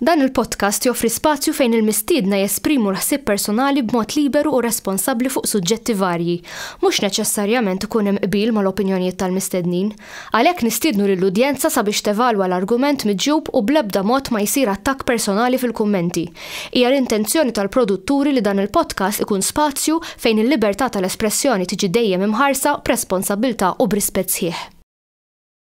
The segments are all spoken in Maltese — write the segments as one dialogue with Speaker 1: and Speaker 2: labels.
Speaker 1: Dan il-podcast joffri spazju fejn il-mistiedna jesprimu l-ħsieb personali b'mod liberu u responsabbli fuq suġġetti varji. Mhux neċessarjament ikun hemm qbil mal-opinjonijiet tal-mistednin. Għalhekk nistiednu lill-udjenza sabiex tevalwa l-argument miġjub u bl-ebda mod ma jsir attakk personali fil-kummenti. Hija l-intenzjoni tal-produtturi li dan il-podcast ikun spazju fejn il-libertà tal-espressjoni tiġi dejjem imħarsa b'responsabbiltà u b'rispett sħiħ.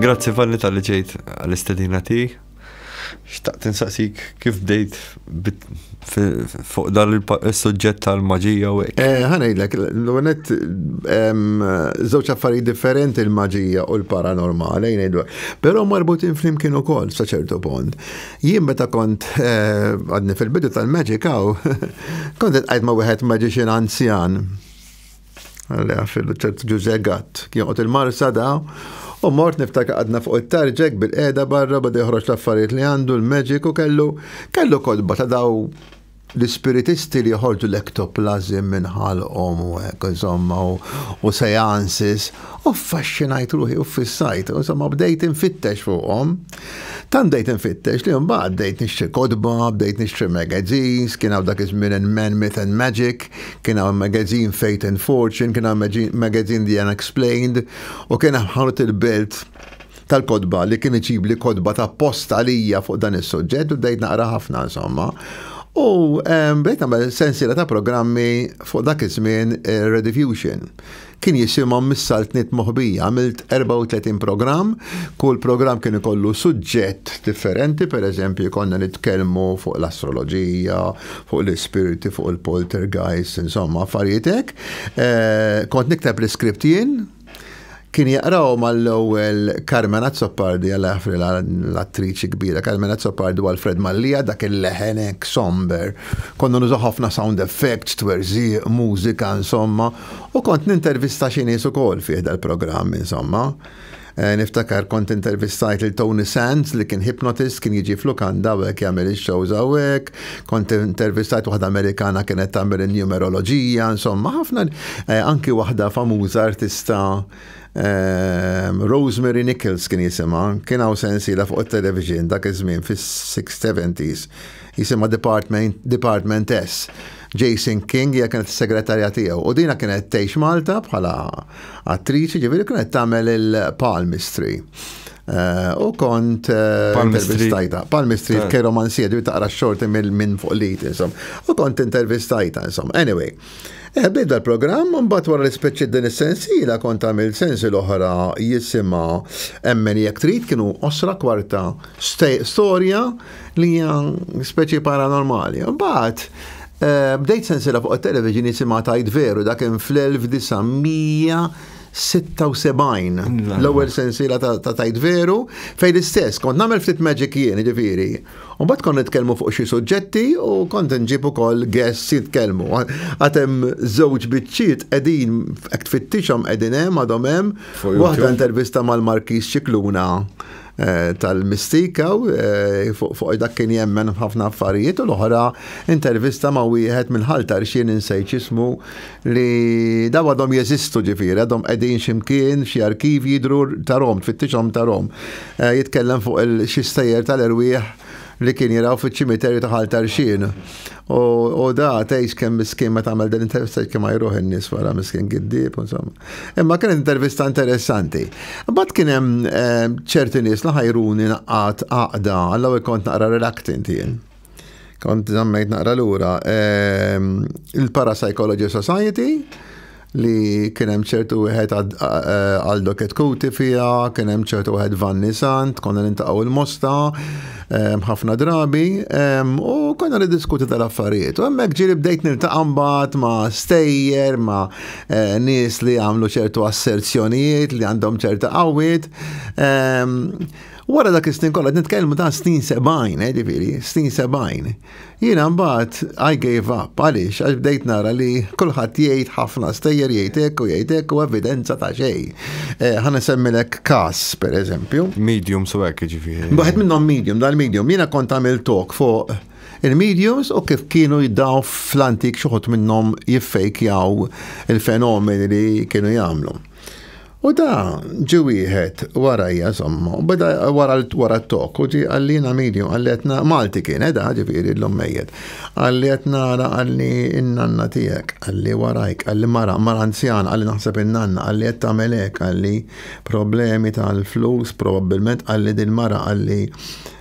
Speaker 1: Grazzi Vanni tal-li ġejt għal-istedina tijek. Xtaqt insaqsik kif bdejt fuq dan il-sujġett tal-maġija u hekk. Eh, ħanajdlek, l-għonet żewġ affarijiet differenti l-maġija u l-paranormali, jgħidu. Però marbutin flimkien ukoll sa ċertu pont. Jien meta kont eh, għadni fil-bidu tal-Magic Aw, kont qed ma' wieħed magician anzjan Għalli għafillu ċert ġuże gatt. Jonqot il-marsa da, u mort niftaka għadna fuq it-tarġek bil-qeda barra bada joħroġ l-affarijiet li għandu l-magic u kellu kellu kodba ta' daw l-spiritisti li joħorġu l-ektoplazim minn ħalqhom u hekk insomma u seances u faxxinajt ruħi u fissajt u insomma bdejt infittex fuqhom. Tant bdejt infittex li mbagħad bdejt nixtri kodba, bdejt nixtri magazines, kien hawn dak iż-żmien Men Myth and Magic, kien hawn magazine Fate and Fortune, kien hawn magazine The Unexplained, u kien hawn ħanut il-belt tal-kodba li kien iġib li kodba ta' post għalija fuq dan is-suġġett u bdejt naqra ħafna insomma. U bdejt nagħmel sensiela ta' programmi fuq dak iż-żmien eh, Redifusion. Kien jisimhom mis-Saltniet Moħbija. Għamilt 34 programm, kull programm kien ikollu suġġett differenti, pereżempju konna nitkellmu fuq l-astroloġija, fuq l-ispirti, fuq il-poltergeist, insomma affarijiet hekk. Eh, kont nikteb l-iskript jien, kien jaqraw mal-ewwel Carmen Azzopardi għal għafri l-attriċi kbira, Carmen Azzopardi u Alfred Mallija dak il-leħenek somber. Konna nużaw ħafna sound effects, twerżiq, mużika, insomma, U kont nintervista xi nies ukoll fih dal-programm insomma. Eh, niftakar kont intervistajt lil Tony Sands li kien hypnotist kien jiġi flukanda u hekk jagħmel ix-shows hawnhekk, kont intervistajt waħda Amerikana kienet tagħmel in-numeroloġija, insomma ħafna eh, anki waħda famuża artista ehm, Rosemary Nichols kien jisimha, kien hawn sensiela fuq it-television dak iż-żmien fis-670s jisimha Department, Department S. Jason King hija kienet is-segretarja tiegħu u dina kienet tgħix Malta bħala attriċi ġifieri kienet tagħmel il-palmistry. Eh, u kont eh, intervistajta. Palmistry eh. keromanzija ġifieri taqra xorti minn fuq lit insom. U kont intervistajta insom. Anyway. Bidda l-programm, mbagħad wara l-ispeċi din is-sensiela kont għamil sensi l-oħra jisimha emmen jekk trid kienu osra kwarta storja li hija speċi paranormali. Mbagħad eh, bdejt sensira fuq it-television jisimha tajt veru dak kien fl-1976 l-ewwel sensiela ta' tajt veru fejn l-istess kont nagħmel ftit magic jien ġifieri. U mbagħad kont nitkellmu fuq xi suġġetti u kont nġib ukoll guests jitkellmu. Għad hemm żewġ biċċiet qegħdin hekk tfittixhom qegħdin hemm għadhom hemm waħda intervista mal-Markis Ċikluna Eh, tal-mistika u eh, fuq dak kien jemmen ħafna affarijiet u l-oħra intervista ma' wieħed minn ħalta rxien insejċ ismu li daw għadhom jeżistu ġifieri, għadhom qegħdin ximkien xi arkiv jidru tarom, tfittixhom tarom. Eh, jitkellem fuq il-xi stejjer tal-erwieħ li kien jiraw fiċ-ċimiterju ta' ħalta rxien. U da tgħix kemm miskin meta għamel din intervista kemm ma jruħ in-nies wara miskin giddib, insomma. Imma kien intervista interessanti. Bat kien hemm eh, ċerti nies li ħajruni naqqat għaqda, għallaw kont naqra reluctant jien. Kont zammejt naqra lura. Ehm, Il-Parapsychology Society, li kien hemm ċertu wieħed eh, għal doket kuti fija, kien hemm ċertu wieħed Vanni Sant, konna nintaqgħu il-mosta, ehm, ħafna drabi, ehm, u konna niddiskuti tal-affarijiet. U hemmhekk ġieli bdejt niltaqa' mbagħad ma' stejjer, ma' eh, nies li għamlu ċertu asserzjonijiet li għandhom ċerta qawwiet. Ehm, wara dak is-snin kollha nitkellmu ta' snin 70, eh, ġifieri, snin 70. Jiena mbagħad I gave up għaliex għax bdejt nara li kulħadd jgħid ħafna stejjer jgħidek u jgħidek u evidenza ta' xejn. Eh, ħa nisemmilek każ pereżempju. Medium so hekk ġifieri. Waħed minnhom medium, dal-medium. Jiena kont għamil talk fuq Il-mediums u kif kienu jiddaw fl-antik xuħut minnom jiffejkjaw il-fenomeni li kienu jamlu. U da ġi wieħed warajja somma, u beda wara wara t-tok, u ġi għallina medium, għalletna Malti kien, edha eh, ġifiri l-lum mejjet. Għalletna għara għalli n-nanna tijek, għalli warajk, għalli mara, mara anzjan, għalli naħseb n-nanna, għalli jett għamelek, għalli problemi tal-flus, probabilment għalli din mara, għalli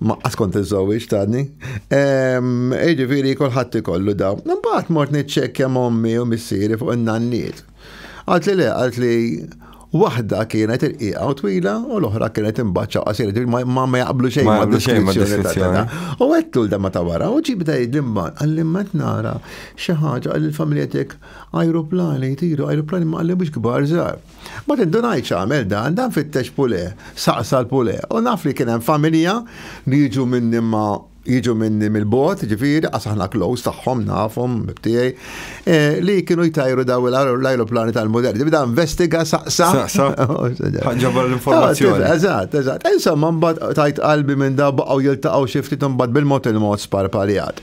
Speaker 1: Ma kont iżżewwiex tani. Jiġifieri kulħadd ikollu daw. Imbagħad mort niċċekkja mommi u missieri fuq in-nanniet. Għalt li le, għalt li waħda kienet irqiqa u twila u l-oħra kienet imbaċċa u qasir, ma ma jaqblu xejn ma deskrizzjoni. U għettu l-dama ta' wara, u ġib da jidlimba, għallim ma nara xi ħaġa għall-familja tiegħek ajruplani jtiru, ajruplani ma għallim biex kbar żgħar. Ma tindunajtx għamel dan, dan fittex Pule, saqsa l-Pule. U naf li kien hemm familja li jiġu minni ma jiġu minni mill-bot, ġifiri, għas aħna close tagħhom nafhom tiegħi, e, li kienu jtajru daw l-ajruplani tal-modell. Tibda investiga saqsa. Saqsa. Ħanġabar l-informazzjoni. Ah, eżatt, eżatt. Insomma, mbagħad tajt qalbi minn daw baqgħu jiltaqgħu xi ftit imbagħad bil-mod il-mod sparpaljat.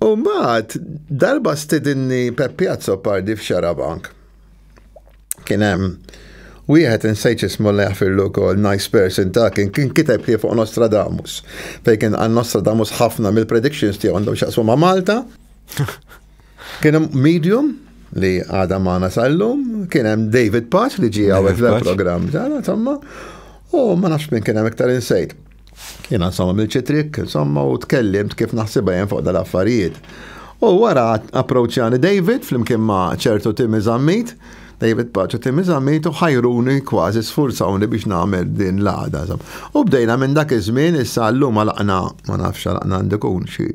Speaker 1: U mbagħad darba stidinni Peppi Azzopardi f'Xarabank. Kien hemm wieħed insejt ismu li jafirlu wkoll nice person ta' kien kien kiteb li fuq Nostradamus. Fejn kien għal Nostradamus ħafna mill-predictions tiegħu għandhom xaqsu ma' Malta. Kien hemm medium li għada maħna sal-lum, kien hemm David Paċ li ġie għawek l-programm, insomma, u ma nafx minn kien hemm iktar insejt. Jiena insomma milċi trik, insomma u tkellimt kif naħsibha jien fuq dal-affarijiet. U wara approċjani David flimkien ma' ċertu Timmy Zammit, David Paċu Timmy Zammit u ħajruni kważi sfurzawni biex nagħmel din l-għada. U bdejna minn dak iż-żmien issa llum għalaqna ma nafx għalaqna għandikun xi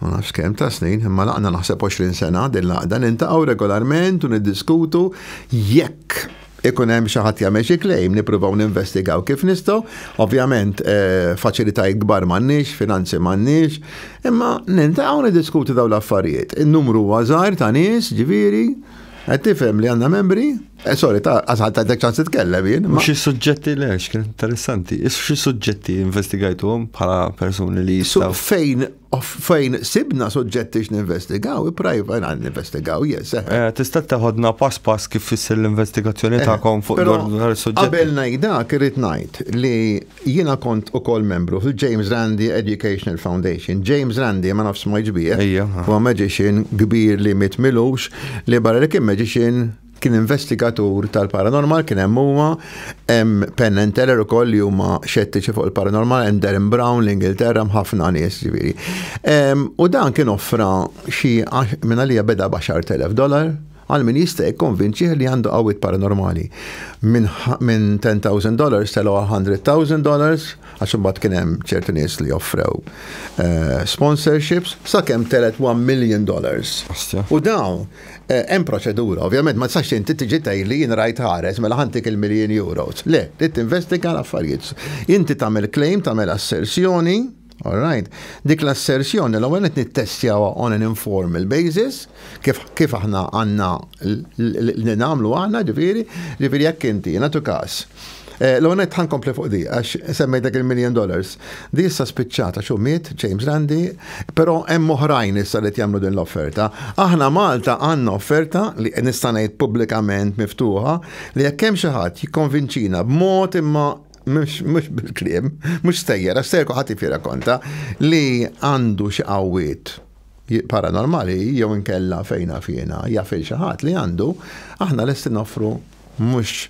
Speaker 1: ma nafx kemm ta' snin, imma laqna naħseb 20 sena din laqda nintaqgħu regolarment u niddiskutu jekk ikun hemm xi ħadd jagħmel xi claim, nippruvaw ninvestigaw kif nistgħu. Ovvjament eh, faċilitajiet kbar m'għandniex, finanzi m'għandniex, imma nintaqgħu niddiskutu dawn l-affarijiet. In-numru huwa żgħar ta' nies, ġifieri, qed tifhem li għandna membri. Eh, sorry, ta' għazħal ta' ċans titkellem jien. Ma xi suġġetti le, xkien interessanti. Is xi suġġetti investigajtuhom bħala persuni li jistaw. Fejn fejn sibna suġġetti x'ninvestigaw, prajva għan investigaw, jes. Eh. Eh, tista' taħodna pass pass kif fissir l-investigazzjoni tagħkom fuq dwar suġġetti. Qabel ngħidak irid ngħid li Jiena kont ukoll membru fil-James Randi Educational Foundation. James Randi, ma nafx smajtx bih, huwa magician kbir li miet m'ilux, li barra li kien magician, kien investigatur tal-paranormal, kien hemm huwa, hemm Penn and Teller ukoll li huma xettiċi fuq il-paranormal, hemm Derren Brown, l-Ingilterra, hemm ħafna nies, ġifieri. U dan kien offra xi, minn għalija beda b'għaxart elef dollar, Għal min jista' jikkonvinċih li għandu qawwiet paranormali. Minn minn ten thousand dollars telgħu għal hundred thousand dollars għax imbagħad kien hemm ċertu nies li offrew sponsorships sakemm telgħet one million dollars. U dawn hemm proċedura. Ovvjament ma tistax inti tiġi tgħidli jien rajt ħares mela ħa ntik il-miljin euros. Le, trid tinvestiga l-affarijiet. Inti tagħmel claim, tagħmel assersjoni. All right. Dik l-assersjoni l-ewwel qed nittestjawha on an informal basis, kif kif aħna għandna li nagħmlu aħna ġifieri, ġifieri jekk inti nagħtu każ. Eh, l-ewwel qed ħankompli fuq di għax semmejtek il-million dollars. Di issa spiċċata xu miet James Randi, però hemm oħrajn issa li jagħmlu din l-offerta. Aħna Malta għandna offerta li nista' ngħid pubblikament miftuħa li jekk hemm xi ħadd jikkonvinċina b'mod imma mux bil-krim, mux stejjera, stejjer kuħat jifira konta li għandu xi qawwiet paranormali jew inkella fejna fjena jafil xi ħadd li għandu, aħna lesti noffru mhux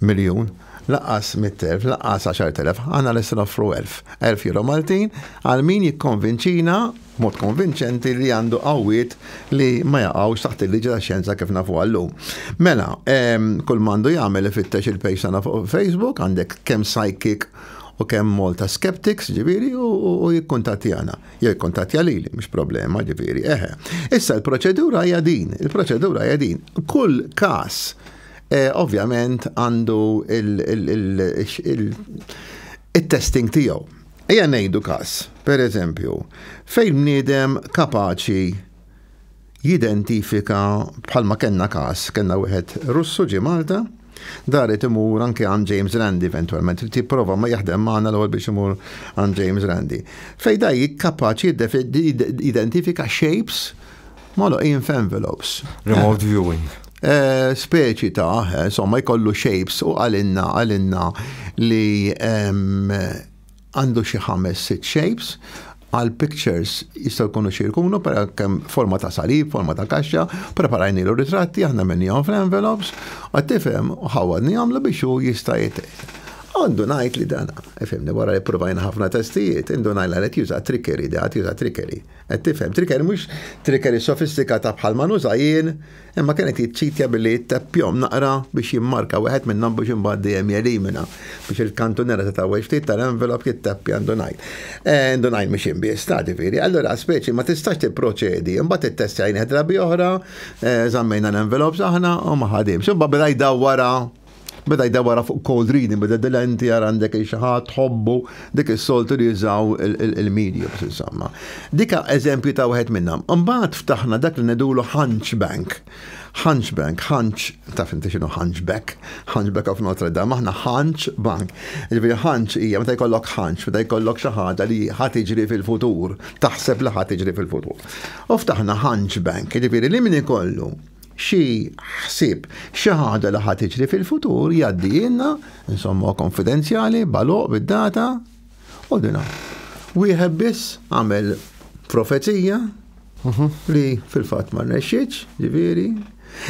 Speaker 1: miljun, laqas 100.000, laqas 10.000, għana l-essin offru 1000. 1000 euro Maltin għal min jikkonvinċina b'mod konvinċenti li għandu qawwiet li ma jaqgħux taħt il-liġi tax-xjenza kif nafuha llum. Mela, kull m'għandu jagħmel ifittex il-page tagħna fuq Facebook, għandek kemm psychic u kemm Malta Skeptics, ġifieri, u jikkuntattjana. Jew jikkuntattja lili, mhux problema, ġifieri, eħe. Issa l-proċedura hija din, il-proċedura hija din. Kull każ eh, ovvjament għandu il-testing tiegħu. Ejja ngħidu każ, per eżempju, fejn bniedem kapaċi jidentifika bħalma kellna każ, kellna wieħed Russu ġie Malta, daret imur anke għand James Randi eventwalment, li tipprova ma jaħdem magħna l-ewwel biex imur għand James Randi. Fejn da kapaċi jidentifika shapes Moloqin f'envelopes. Remote viewing. Eh, speċi ta', eh, insomma, jkollu shapes u għalinna, għalinna li ehm, għandu xi ħames sit shapes għal pictures jistaw kunu xirkunu per kem forma ta' salib, forma ta' kaxxa, preparajni l ritratti aħna minni għom fl-envelopes, għattifem ħawadni għamlu biex u jista' Għandu najt li dana, efemni, wara li provajna ħafna testijiet, għandu najla li t-juża trickery, da t-juża trickery. Qed tifhem, trickery mhux trickery sofistikata bħal ma nuża jien, imma kien qed jiċċitja billi jitteppjhom naqra biex jimmarka wieħed minnhom biex imbagħad dejjem jelimina biex il-kantunera ta' taħwejġ ftit tal-envelop jitteppja indunajl. Eh, indunajl mhux jien biss, ta' ġifieri. Allura speċi ma tistax tipproċedi, imbagħad ittestjajnih drabi oħra, eh, żammejna l-envelops aħna u ma ħadimx. Imbagħad beda jdawwara Beda jda wara fuq cold reading, beda dilenti għar għandek il-xaħat, tħobbu, dik il-soltu li jizaw il-media, bis insomma. Dika eżempju ta' wieħed minnam. Mbaħt ftaħna dak li nedulu Hunchbank. Hunchbank, Hunch, taf inti xinu Hunchback, Hunchback of Notre Dame, aħna Hunch Bank. Ġifiri Hunch hija meta jkollok Hunch, meta jkollok xi ħaġa li ħadd iġri fil-futur, taħseb li ħadd iġri fil-futur. U ftaħna Hunchbank, ġifiri li min ikollu xi ħsieb, xi ħaġa li ħa tiġri fil-futur jgħaddijilna, insomma konfidenzjali, baloq bid-data, u dina. Wieħed biss għamel profezija mhm. li fil-fatt ma rnexxitx, ġifieri.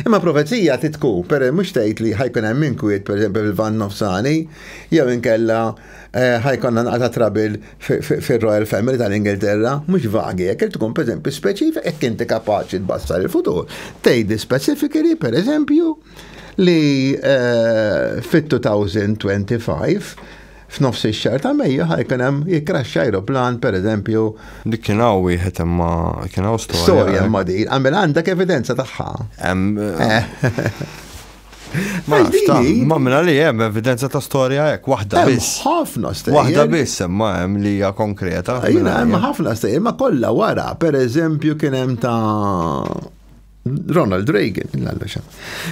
Speaker 1: Imma profezija titku, per mhux tgħid li ħajkun hemm inkwiet, pereżempju fil-van nofsani, jew inkella Eh, ħajkonna naqta trabil fil-Royal Family tal-Ingilterra, mux vagi, jek tkun per eżempju speċifik, jek inti kapaċi tbassar il-futur. Tejdi specifically, per eżempju, li eh, fit-2025 f'nofs ix-xar ta' Mejju ħajkun hemm jikraxxa aeroplan pereżempju. Dik kien hawn wieħed imma kien hawn storja. Storja eh. ma' din, għamel għandek evidenza tagħha. Eh. Ma minna li jem evidenza ta' storja hekk, waħda biss. Ħafna stejjer. Waħda biss imma hemm li hija konkreta. Jina hemm ħafna stejjer, ma kollha wara, per eżempju kien hemm ta' Ronald Reagan, l-għallexa.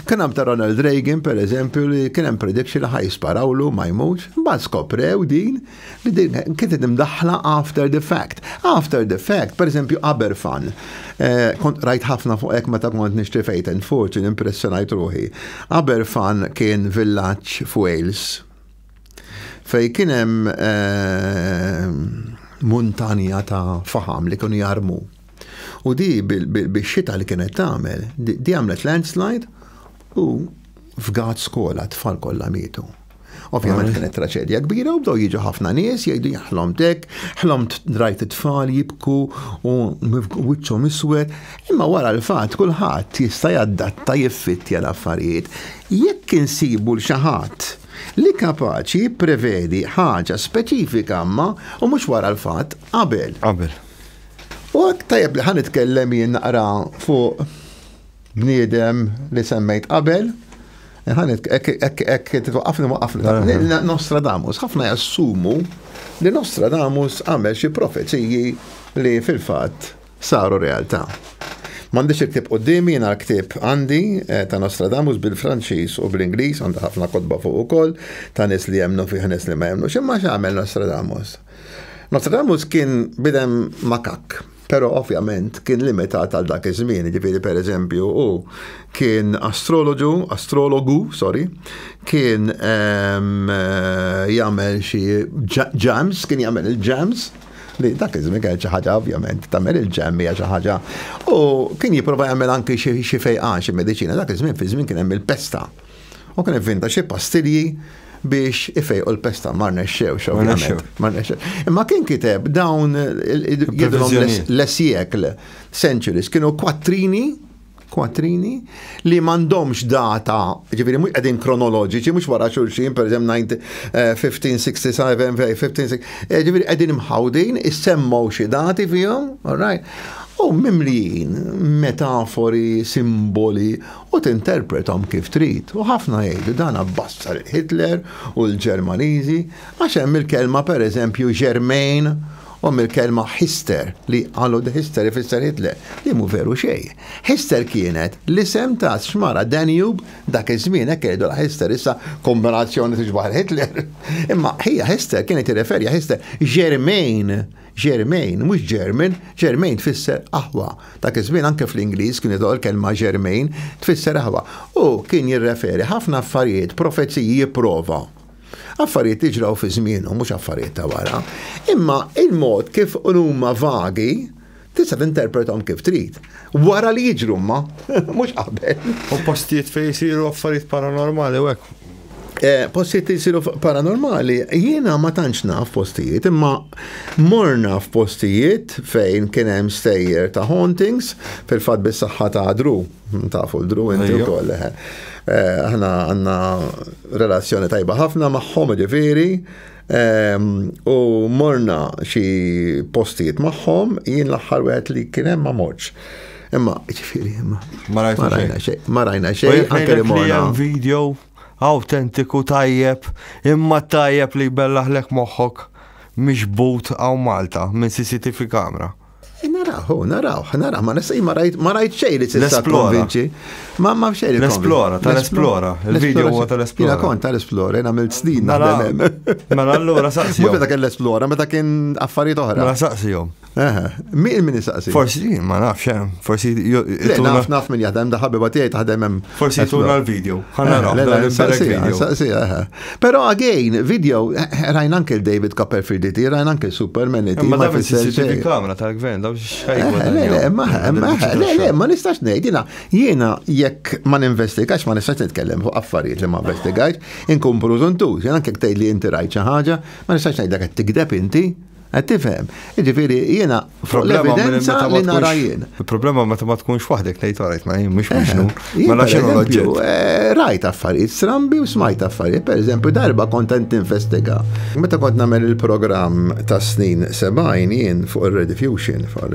Speaker 1: Kien hemm ta' Ronald Reagan, per eżempju, li kien hemm prediction li ħaj sparawlu ma jmux, mbagħad skoprew din li din kienet imdaħħla after the fact. After the fact, per eżempju, Aberfan. Eh, kont rajt ħafna fuq hekk meta kont nixtri fejt and fortune impressjonajt ruħi. Aberfan kien villaġġ f'Wales fej kien hemm eh, muntanja ta' faham li kienu jarmu. U di bix-xita li kienet tagħmel, di għamlet landslide u f'gat skola tfal kollha mietu. Ovvjament kienet traċedja kbira u bdew jiġu ħafna nies jgħidu jaħlom dek, ħlomt drajt it-tfal jibku u wiċċhom iswed, imma wara l-fatt kulħadd jista' jaddatta jiffittja l-affarijiet. Jekk insibu l xi ħadd li kapaċi prevedi ħaġa speċifika ma u mhux wara l-fatt qabel. Qabel. U tajjeb li ħan itkellem jien naqra fuq bniedem li semmejt qabel, Ħanet, ekk titwaqafni waqafni. Nostradamus, ħafna jassumu li Nostradamus għamel xi profeziji li fil-fatt saru realtà. M'għandix il-ktib qudiemi jiena l-ktib għandi eh, ta' Nostradamus bil-Franċiż u bl-Ingliż għandha ħafna kodba fuq ukoll ta' nies li jemnu fih nies li ma jemnu. X'imma x'għamel Nostradamus? Nostradamus kien bidem makak. Però ovvjament kien limitat għal dak iż-żmien, jiġifieri pereżempju hu kien astroloġu, astrologu, sorry, kien ehm, jagħmel xi ġams, kien jagħmel il-ġams, li dak iż-żmien kien xi ħaġa ovvjament tagħmel il-ġemm hija xi ħaġa. U kien jipprova jagħmel anki xi fejqan xi mediċina dak iż-żmien fi żmien kien hemm il-pesta. U kien ivvinta xi pastilji biex ifejqu l-pesta ma rnexxewx ovvjament. Ma rnexxewx. Imma kien kiteb dawn jidhom l-esjekl, centuries, kienu kwattrini kwattrini li mandomx data, ġifiri mux għedin kronoloġiċi, mux wara xulxin, per eżem 1567, 1560, ġifiri għedin mħawdin, issemmaw xie dati fihom, all right? U mimlijin, metafori, simboli, u tinterprethom kif trid u ħafna jgħidu dan abbassar il-Hitler u l-Ġermaniżi għax hemm il-kelma pereżempju Germain u hemm il-kelma Hister li qalu the Hister ifisser Hitler li mhu veru xejn. Hister kienet l-isem ta' xmara Danube dak iż-żmien hekk jgħidu la Hister issa kombinazzjoni tixbaħ il-Hitler. Imma ħija Hister kienet tirreferja Hister Germain Germain, mhux German, Germain tfisser aħwa. Dak iż-żmien anke fl-Ingliż kien jidħol kelma Germain, tfisser aħwa. U kien jirreferi ħafna affarijiet, profeziji jipprova. Affarijiet li ġraw fi żmienu, mhux affarijiet ta' wara. Imma il-mod kif huma vagi, tista' tinterpretom kif trid. Wara li jiġru ma, mhux qabel. U postijiet fejn isiru affarijiet paranormali u hekk. Eh, postijiet li jisiru paranormali, jiena ma tantx naf postijiet, imma morna f'postijiet fejn kien hemm stejjer ta' hauntings fil-fatt bis-saħħa ta' dru, tafu l-dru inti wkoll. Eh. Eh, aħna għandna relazzjoni tajba ħafna magħhom ġifieri, U morna xi postijiet magħhom, jien l-aħħar wieħed li kien hemm ma morċ. Imma, ġifiri, imma. Ma rajna xejn. Ma rajna xejn. Anke li morna. Video autentiku tajjeb, imma tajjeb li bellaħlek moħħok miġbut għaw Malta minn CCTV kamra. Eh, naraw, oh, naraw, naraw, ma nista' ma rajt ma rajt xejn li tista' konvinċi. Ma ma xejn. L-esplora, tal-esplora, il-video huwa tal-esplora. Jiena kont tal-esplora, jiena għamilt snin mela, naħdem hemm. Mela allura saqsi. Meta kien l-esplora, meta kien affarijiet oħra. Mela saqsihom. Min min saqsi? Forsi ma nafx hemm, eh, forsi naf naf min jaħdem da ħabiba tiegħi taħdem hemm. Forsi tuna l-video. Ħa naraw. Saqsi, saqsi, Pero again, video, rajn anke David Copperfield iti, rajn anke Superman iti. Ma davi CCTV kamra tal-gvern, daw xħajgwa. Eh, le, le, le, le, ma nistax nejt, jina, jina, jekk ma ninvestigax, ma nistax nitkellem fuq affarijiet li ma investigax, inkun pruzuntu, jina anke ktej li inti rajt ħaġa, ma nistax nejt dak tikdeb inti, Qed tifhem. Jiġifieri jiena fuq l-evidenza li nara jien. Il-problema meta ma tkunx waħdek tgħid għalajt ma jien mhux eh, mixnu. Mela x'inhu l-oġġett? Eh, rajt affarijiet strambi u smajt affarijiet. Pereżempju darba kont qed tinvestiga. Meta kont nagħmel il-programm tas-snin 70 jien fuq ir-rediffusion fuq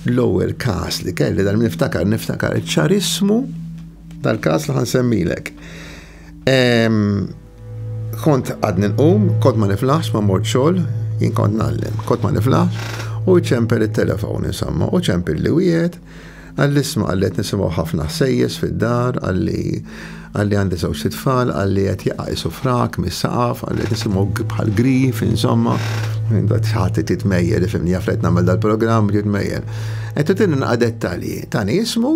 Speaker 1: l-ewwel każ li kelli dan niftakar niftakar ċarismu tal-każ li ħansemmilek. Kont għadni nqum, kont ma niflaħx ma mort xogħol, jien kont nallem, kont ma niflaħx, u ċempel it-telefon insomma, u ċempel li wieħed, għall-isma għallet nisimgħu ħafna ħsejjes fid-dar, għalli għalli għandi żewġ tfal, għalli qed jaqajsu frak mis-saqaf, għalli qed nisimgħu bħal grif, insomma, ħadd titmejjel, ifimni jaflet nagħmel dal-programm, titmejjel. Qed titinna dettalji, tani ismu,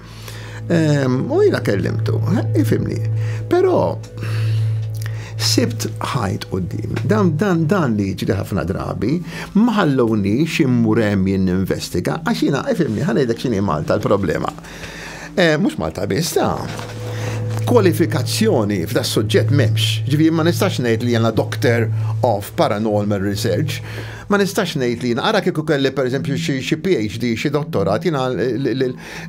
Speaker 1: U jina kellimtu, ifimni. Pero, sibt ħajt u din. Dan, dan, dan li ġri ħafna drabi, maħalloni ximmurem jinn investiga, għax jina, ifimni, ħanajdek xini Malta l-problema. Eh, Mux Malta biss, ta' kwalifikazzjoni f'da suġġett memx. Ġivi, ma nistax ngħid li jena Doctor of Paranormal Research. Ma nistax ngħid li jena, ara kieku kelli per eżempju xi PhD, xi dottorat, jena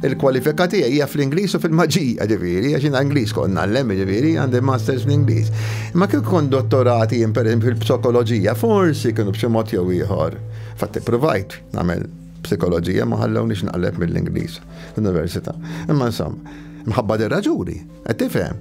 Speaker 1: Il-kwalifika tiegħi hija fl-Ingliż u fil-maġija, ġifieri, għax jiena Ingliż kont ngħallem, ġifieri, għandi masters fl-Ingliż. Imma kif kont dottorati jien pereżempju fil-psikoloġija, forsi kienu b'xi mod jew ieħor. Fatt ippruvajt nagħmel psikoloġija ma ħallewniex naqleb mill-Ingliż fl-università. Imma insomma, mħabba dir-raġuni, qed tifhem.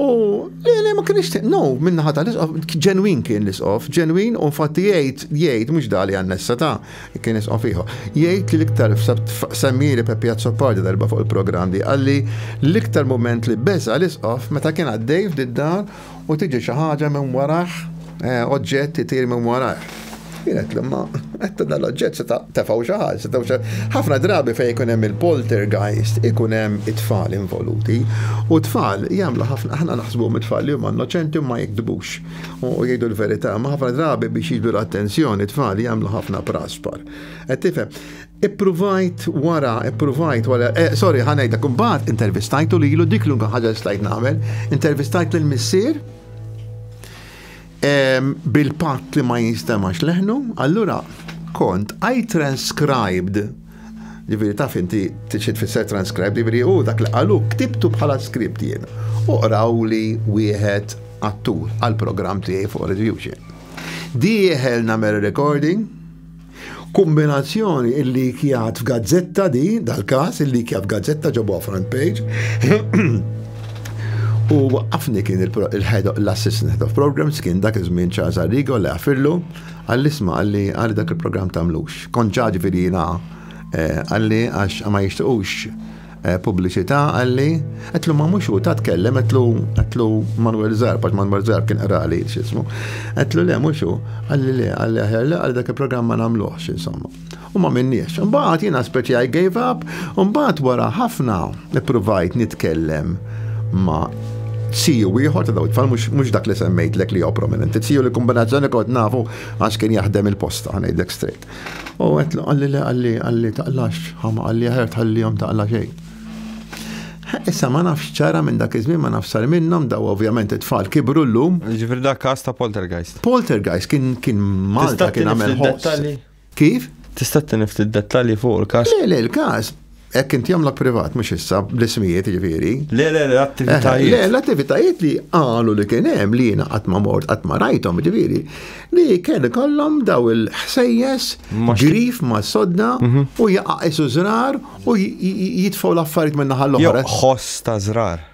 Speaker 1: U le, le, ma kienx, no, minna ħata l-isqof, ġenwin kien l-isqof, ġenwin, u fatti jgħid, jgħid, mux dali għannessa ta' kien isqof iħu. Jgħid li l-iktar semmiri Peppi Azzopardi darba fuq il-program di, għalli l-iktar moment li beza l-isqof meta kien għaddej f'diddar u tiġi xaħġa minn waraħ Eh, oġġett itir minn warajh. Kienet l-imma, għetta dal-oġġett se tefaw xaħal, se tefaw xaħal. ħafna drabi fej ikun hemm il-poltergeist, ikun hemm it-tfal involuti. U tfal jagħmlu ħafna aħna naħsbu mit-tfal li huma innoċenti ma jikdbux u jgħidu l-verità, ma ħafna drabi biex jiġdu l-attenzjoni tfal jagħmlu ħafna praspar. Qed tifhem, Ippruvajt wara, ippruvajt wara, eh, sorry, ħanajda, kumbat intervistajtu li jilu dik l-unka ħagġa stajt namel, intervistajt l-missier, bil-patt li ma jinstemax leħnu, allura kont I transcribed Ġifiri taf inti t-xit fisser transcribe, ġifiri u dak li għalu ktibtu bħala skript jien. U qraw li wieħed għattur għal-program tiegħi fuq review Dieħel namel recording, Kumbinazzjoni il-likjat f'gazzetta di, dal-każ il-likjat f'gazzetta ġabuha front page. U waqqafni kien l-assistant head of programs kien dak iż-żmien Charles Arrigo li għafillu għall-isma għalli għalli dak il-programm tagħmlux. Kont ġaġi virina eh, għalli għax ma jixtiqux pubbliċità qalli, għedtlu ma mhux hu ta' tkellem għedtlu għedtlu Manuel Zarb għax Manuel Zarb kien qrali x'ismu. Għedtlu le mhux hu, qalli le, qalli aħjar le għal dak il-programm ma nagħmluhx insomma. U ma minniex. Imbagħad jiena speċi I gave up, u mbagħad wara ħafna ippruvajt nitkellem ma' siju ieħor ta' daw it-tfal mhux dak li semmejtlek li jew prominenti. Siju li kombinazzjoni kont nafu għax kien jaħdem il-posta ngħidlek straight. U għet għalli li għalli għalli taqlax, ħama għalli ħer tħalli jom taqla xej. Issa ma nafx ċara minn dak iż-żmien ma nafx sar minnhom daw ovvjament it-tfal kibru llum. Ġifir dak kas ta' poltergeist. Poltergeist kien kien Malta kien għamel Kif? Tista' tinif dettalji fuq il-kas? Le, le, il-kas Hekk inti għamlok privat, mhux issa, bl-ismijiet ġifieri. Le, le, l-attivitajiet. Le, l-attivitajiet li qalu li kien hemm li jiena qatt ma mort, qatt ma rajthom ġifieri, li kien ikollhom daw il-ħsejjes grif ma' sodda mhm. u jaqa' isu żrar u jitfgħu l-affarijiet minn naħa l-oħra. Ħoss ta' żrar.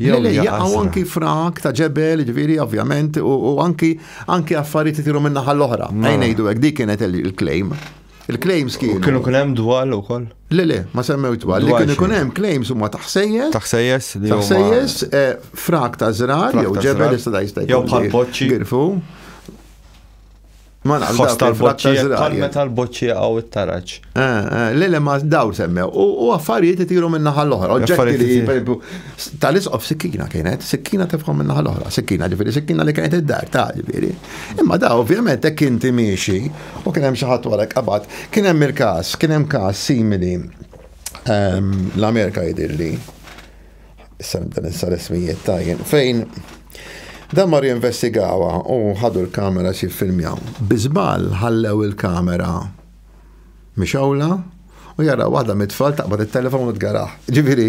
Speaker 1: Jew jaqgħu anki frak ta' ġebel, ġifieri ovvjament, u anki anki affarijiet itiru minn naħa l-oħra. Mela. Ejn ngħidu hekk dik kienet il-claim. Il-claims kienu. Kienu kien hemm dwal ukoll? Le le, ma semmew dwal. Li kienu kien hemm claims huma taħsejjes. Taħsejjes li huma. Taħsejjes eh, frak ta' żrar jew ġebel jista' jista' Jew bħal poċċi. Girfu. Ma nafx Fost dawk il-frat ta' tal-boċċija, Izrael. tal-me tal-boċċija għaw it-taraġ. Eh, eh, Le, le, ma daw semmew. U u affarijiet itiru minn naħa l-oħra. Oġġetti Affarijiet li, itiru. per esempio, s- tal-isqof sikkina kienet, sikkina tefkom minn naħa l-oħra. Sikkina, ġifiri, sikkina li kienet id-dar, ta' ġifiri. Imma da, ovvjament, hekk inti miexi, u kien hemm xi ħadd warek qabad. Kien hemm il-każ, kien hemm każ simili ehm, l-Amerika jidirli. Issa nibda nissa l-ismijiet tajjen. Fejn Dan mar jinvestigawa u ħadu l-kamera xi filmjaw. Biżbal ħallew il-kamera mixawla u jara waħda mit-tfal taqbad it-telefon u tgaraħ. Ġifieri,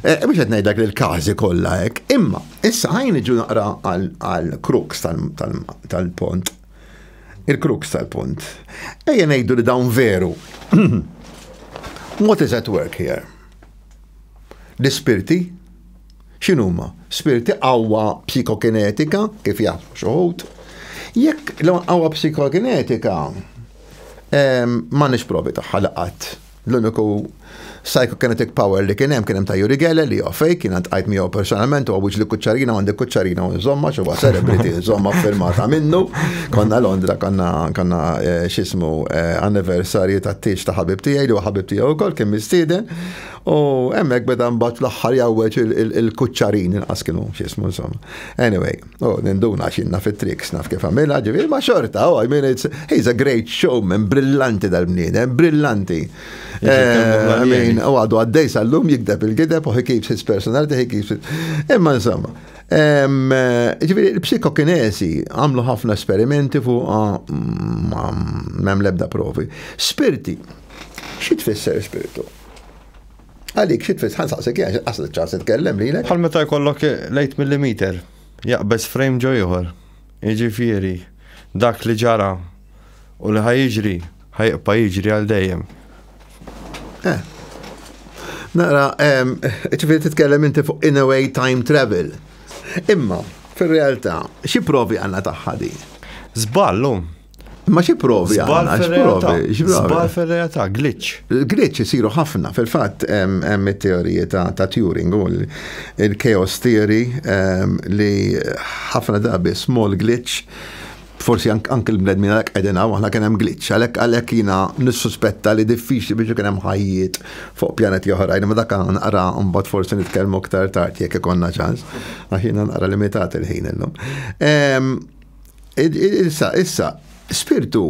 Speaker 1: eh, biex qed ngħidlek li l-każi kollha hekk. Imma issa ħajn iġu naqra għal kruks tal-pont. Il-kruks tal-pont. Ejja ngħidu li dawn veru. What is at work here? L-ispirti x'inhuma? Spirti qawwa psikokinetika kif jaħdmu xoħut. Jekk l-qawwa psikokinetika ehm, ma nix provi tagħha laqat. L-uniku psychokinetic power li kien hemm kien hemm ta' Juri Gele li fejk kien għand qajt miegħu personalment u għawġ li kuċċarina għandi kuċċarina u nżomma xi huwa celebrity nżomma firmata minnu. Konna Londra, konna konna eh, xismu eh, anniversarju ta' tiex ta' ħabib tiegħi li ħabib tiegħu wkoll kien mistieden. U hemmhekk beda mbagħad fl-aħħar jawweġ il-kuċċarin inqas kienu xismu insomma. Anyway, u ninduna xinna fit-triks naf kif għamilha ġifieri ma' xorta, oh, I mean it's he's a great showman, brillanti dal-bniedem, brillanti. Eh, I mean, u għadu għaddej sal-lum jikdeb il-gideb u he keeps his personality, he keeps it. Imma insomma, Ġifieri l-psikokinesi għamlu ħafna esperimenti fuq ah, mm, m'hemm l-ebda provi. Spirti, xi tfisser spirtu? Għalik, xi tfisser ħansaqsek jgħax qaslu ċans nitkellem lilek. Bħal meta jkollok lejt millimeter, jaqbeż frame ġo ieħor. Jiġifieri dak li ġara u li ħajġri ħajqpa jiġri għal dejjem. Eh. Nara, ċifiri titkellem inti fuq in a way time travel. Imma, fil-realtà, xi provi għanna taħħa di? Zballu. Ma xi provi għanna, xi provi. Zbal fil-realtà, glitch. Glitch jisiru ħafna, fil-fatt, hemm it-teorija ta' Turing u l-chaos theory li ħafna dabi small glitch Forsi anke l-bnedmin għalhekk qegħdin hawn, aħna kien hemm glitch, għalhekk għalhekk jiena nissuspetta li diffiċli biex ikun hemm ħajjiet fuq pjaneti oħrajn, imma dak naqra mbagħad forsi nitkellmu aktar tard jekk ikollna ċans, għax jiena naqra limitat il-ħin illum. Ehm, issa, issa, spirtu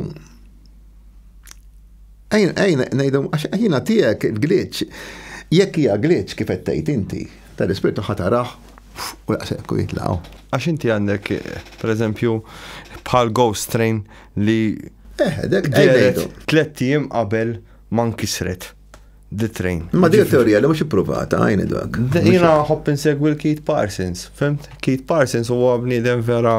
Speaker 1: Ejn, ejn, nejdu, għax jina tijek glitch, jekk hija glitch kif tgħid inti, tal-ispirtu ħataraħ u jaqsek u jitlaw. Għax inti għandek, per eżempju, bħal ghost train li. Eh, dek, dek, dek. Tlettijiem qabel man kisret. The train. Ma di teorija li mhux ipprovata għajni dak. Jiena ħobb insegwi l-Keith Parsons, fimt? Keith Parsons huwa bniedem vera.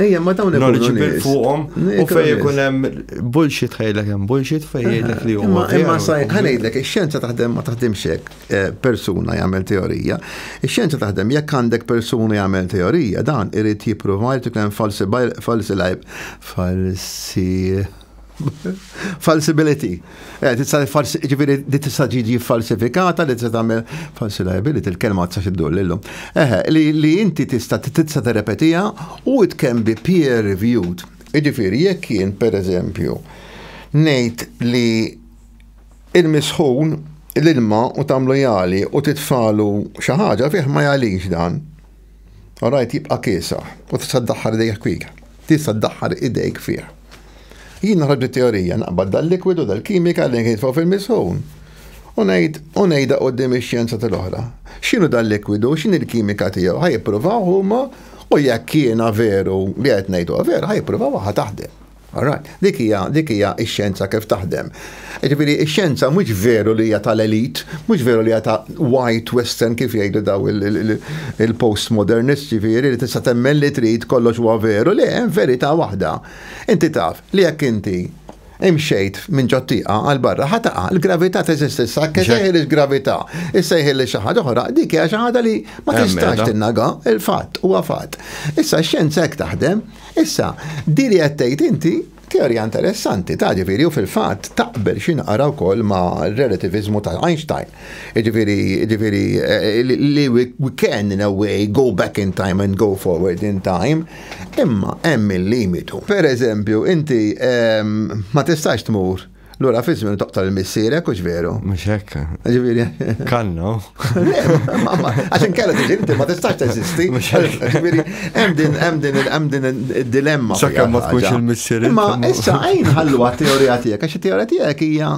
Speaker 1: Ejja, ma dawn knowledgeable fuqhom u fejn ikun hemm bullshit ħejlek hemm bullshit fejn jgħidlek li huma. Imma saj ħanejdlek ix-xjenza taħdem ma taħdimx hekk eh, persuna jagħmel teorija. Ix-xjenza taħdem jekk għandek persuna jagħmel teorija dan irid jipprova jrid ikun hemm falsi falsi falsi Falsibility. Eh, ġifiri li tista' ġiġi falsifikata li tista' tagħmel falsi liability, il-kelma tista' xiddur lilhom. Eħe, li inti tista' tista' terrepetija u it can be peer reviewed. Ġifiri, jekk jien pereżempju ngħid li il-misħun l-ilma u tagħmlu jali u titfalu xi ħaġa fih ma jalix dan. Orajt jibqa' kiesaħ u tista' ddaħħal idejk fih. Tista' ddaħħal idejk fih. Jien noħroġ it-teorija, naqbad dal-likwidu, dal-kimika li nkisbu fil-misħun. U ngħid, u ngħidha quddiem ix-xjenza tal-oħra. X'inhu dal-likwidu, x'inhi l-kimika tiegħu, ħa jippruvaw huma u jekk jiena veru li qed ngħid huwa veru, ħa jippruvawha, ħa taħdem. All right. Dik hija, dik hija x-xjenza kif taħdem. Jiġifieri x-xjenza mhux veru li hija tal-elite, mhux veru li hija ta' white western kif jgħidu daw il-postmodernists ġifieri li tista' temmen li trid kollox huwa veru, le hemm verità waħda. Inti taf li jekk inti imxejt minn ġot-tieqa għal barra ħa taqa', il-gravità teżisti issa hekk isejħilha il-gravità, issejħilha xi ħaġa oħra, dik hija xi ħaġa li ma tistax tinnega, il-fatt huwa fatt. Issa x-xjenza hekk taħdem. Issa, di li qed tgħid inti teorija interessanti, ta' ġifieri u fil-fatt taqbel xi naqra wkoll ma' relativizmu ta' Einstein. Ġifieri ġifieri eh, li we can in a way go back in time and go forward in time, imma hemm il-limitu. Per eżempju, inti ehm, ma tistax tmur Lura fi żmien toqtol il-missierek, u veru. Mhux hekk. Ġifieri. Kanno. Għax inkella tiġi inti ma tistax teżisti. Ġifieri hemm din hemm din hemm din id-dilemma. Sakemm ma tkunx il-missierek. Ma issa għajn ħallu għat-teorija tiegħek għax it-teorija tiegħek hija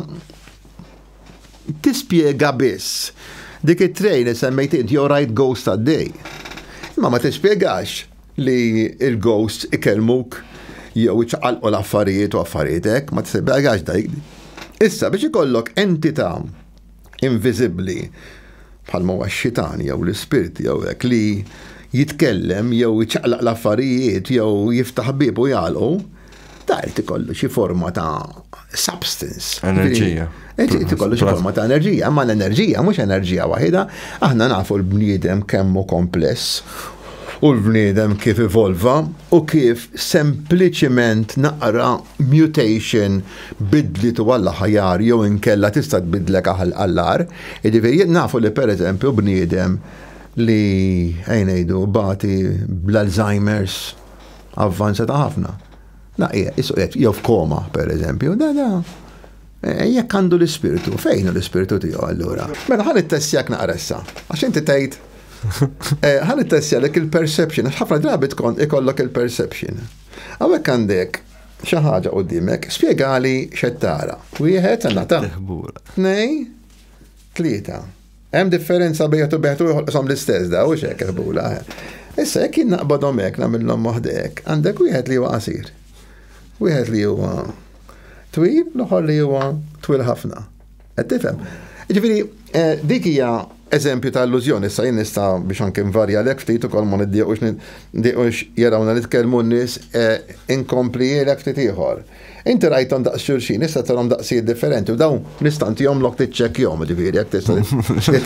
Speaker 1: tispjega biss dik it-trejn li semmejt int jew rajt ghost għaddej. Imma ma tispjegax li l-ghosts ikellmuk jew iċaqalqu l-affarijiet u affarijiet hekk, ma tisibhekx dik. Issa biex ikollok entità inviżibbli bħal ma xitan jew l-ispirti jew hekk li jitkellem jew iċaqlaq l-affarijiet jew jiftaħ bieb u jagħlqu, Ta' irid ikollu xi forma ta' substance. Enerġija. Irid ikollu xi forma ta' enerġija, imma l-enerġija mhux enerġija waħida, aħna nafu l-bniedem kemm hu kompless u l-bniedem kif evolva u kif sempliċiment naqra mutation bidlitu għall-aħjar jew inkella tista' tbidlek għall-ar. Jiġifieri nafu li pereżempju bniedem li ejn ngħidu bati bl-Alzheimer's avvanzata ħafna. Da qiegħed isu qiegħed jew f'koma pereżempju, da da eh, jekk għandu l-ispirtu, fejn l-ispirtu tiegħu allura? Mela ħan ittessjak naqra issa, għax inti tgħid eh, ħan ittessjalek il-perception, għax ħafna drabi tkun ikollok il-perception. Hawnhekk għandek xi ħaġa qudiemek, spjegali x'qed tara. Wieħed għandna ta' tnejn, tlieta. Hemm differenza bejn u beħtu joħolqhom l-istess da, u xek ħbula. Issa jekk jien naqbadhom hekk nagħmilhom moħdek, għandek wieħed li huwa qasir. Wieħed li huwa twil, l-oħor li huwa twil ħafna. Qed tifhem? Ġifieri, eh, dik hija eżempju ta' illużjoni, issa jien nista' biex anke nvarja lek ftit ukoll ma niddiqux niddiqux jarawna nitkellmu n-nies eh, inkompli lek ftit ieħor. Inti rajthom daqs xulxin, issa tarhom daqsijiet differenti u dawn nista' ntihomlok tiċċekkjahom, ġifieri jekk tista'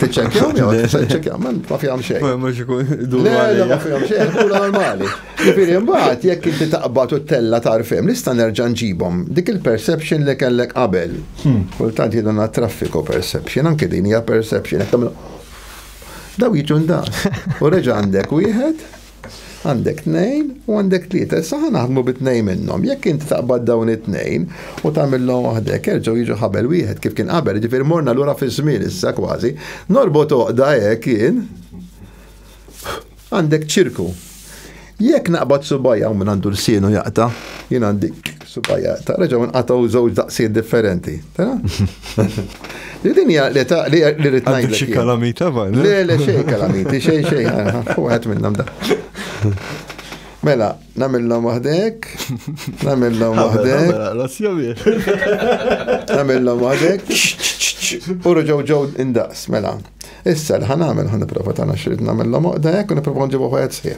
Speaker 1: tiċċekkjahom jew tista' tiċċekkjahom, ma fihom xejn. Ma mhux ikun idur Le, le, ma fihom xejn, ħdura normali. Ġifieri mbagħad jekk inti taqbad u ttella' tarf hemm, nista' nerġa' nġibhom. Dik il-perception li kellek qabel. Kultant jgħidulna traffiku perception, anke din hija perception, jekk tagħmel dawn jiġu ndaqs. U reġa' għandek wieħed. Għandek tnejn u għandek tlieta. Issa ħa naħdmu bi tnejn minnhom. Jekk inti taqbad dawn it-tnejn u tagħmilhom waħdek, jerġgħu jiġu ħabel wieħed kif kien qabel, jiġifieri morna lura fiż-żmien issa kważi. Norbot oqda hekk jien. Għandek ċirku. Jekk naqbad subajja u minn għandu l-sienu jaqta, jien għandi Subajja, ta' reġaw nqataw żewġ daqsijiet differenti. Li din hija li ta' li rrid ngħid. Xi kalamita bħal. Le le xejn kalamiti, xejn xejn, wieħed minnhom da. Mela, namillom waħdek, namillom waħdek. Namillom waħdek. U rġaw ġew indaqs, mela. Issa li ħanamel ħan niprofa tagħna xrid namillom waħdek u niprofa nġibu ħajt sħiħ.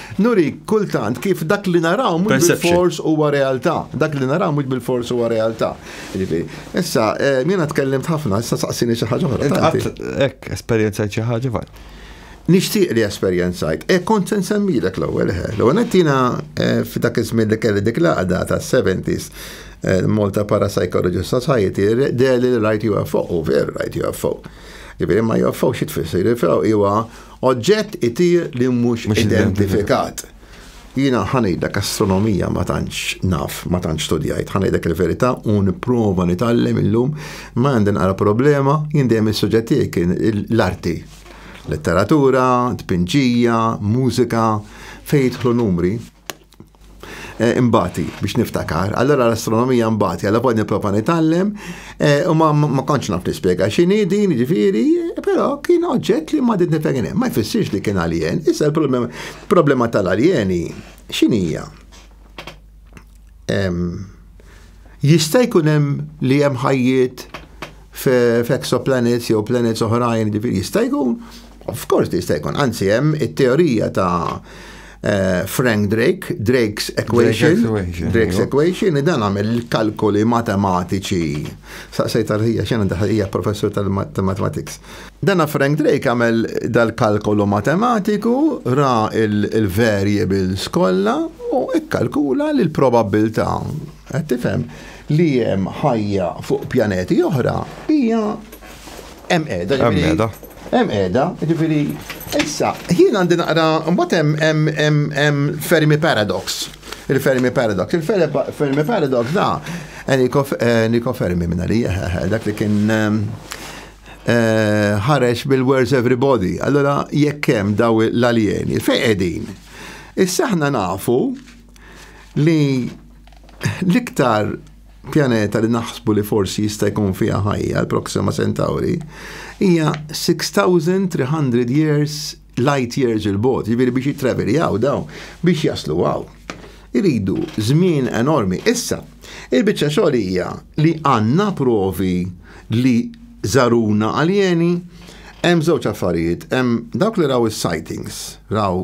Speaker 1: Nurik kultant kif dak li naraw mhux bil-fors huwa realtà. Dak li naraw mhux bil-fors huwa realtà. Jiġifieri, issa eh, jiena tkellimt ħafna, issa saqsini xi ħaġa oħra. Hekk esperjenzajt xi ħaġa fal. Nixtieq li esperjenzajt. E kont se nsemmilek l-ewwel ħe. L-ewwel qed jiena eh, f'dak iż-żmien li kelli dik l-għaqda tas-70s eh, Malta Parapsychology Society deli l-right UFO, u ver right UFO. Ġifieri ma UFO xi tfisser? UFO huwa Oġġett itir li mhux identifikat. Jiena ħanejdlek astronomija ma tantx naf, ma tantx studjajt, ħanejdlek il-verità u nipprova nitgħallem illum ma għandi naqra problema jien dejjem is-suġġett tiegħi kien l-arti. Letteratura, tpinġija, mużika, fejn jidħlu numri. Eh, imbati biex niftakar. Allora l-astronomija mbati, għalla poi niprofa nitallem, eh, u ma konċ naf nispiega xini din ġifiri, pero kien oġġett li ma dit nifegħin. Ma jfissirx li kien alien, issa l-problema tal-alieni xinija. Jista' jkun hemm li hemm ħajjiet f'exoplanets jew planets oħrajn, ġifiri jista' jkun, of course jista' jkun, anzi hemm it-teorija ta' eh, Frank Drake, Drake's equation, Drake's equation, dan għamel il-kalkoli matematiċi. Saqsejt għal-ħija, xena daħħija professur tal-matematics. Dana Frank Drake għamel dal-kalkolu matematiku, ra il-variables kollha u ikkalkula li l-probabbiltà Qed tifhem li hemm ħajja fuq pjaneti oħra hija hemm qiegħda. Hemm qiegħda. Hemm qiegħda, jiġifieri issa jien għandi naqra mbagħad hemm Fermi Paradox. Il-Fermi Paradox. Il-Fermi Paradox da Eniko eh, Fermi minna li eh, eh, dak li kien ħareġ bil-Where's Everybody. Allora jekk hemm daw l-aljeni fejn qegħdin. Issa aħna nafu li l-iktar pjaneta li naħsbu li forsi jista' jkun fiha ħajja l-Proxima Centauri hija 6300 years light years il-bot, jiġifieri biex jittraveljaw daw biex jaslu għaw. Iridu żmien enormi. Issa, il-biċċa xogħol hija li għandna provi li żaruna aljeni hemm żewġ affarijiet, hemm dawk li raw is-sightings, raw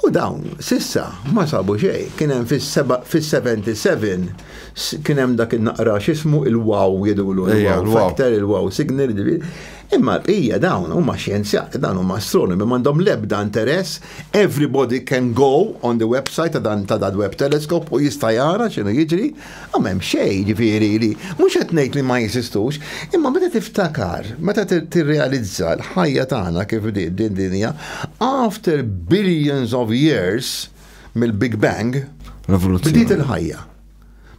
Speaker 1: U dawn s'issa ma sabu xejn. Kien hemm fis-77 kien hemm dak in-naqra x'ismu il-wow jidulu il-wow factor, il-wow signal, imma l-bqija dawn huma xjenzjati, dawn huma astronomi m'għandhom l-ebda interess, everybody can go on the website ta' dan ta' dal-web telescope u jista' jara x'inhu jiġri, Ah, m'hemm xejn, jiġifieri li mhux qed ngħid li ma jeżistux, imma meta tiftakar, meta tirrealizza l-ħajja tagħna kif bdiet din dinja, after billions of years mill-Big Bang, bdiet il-ħajja.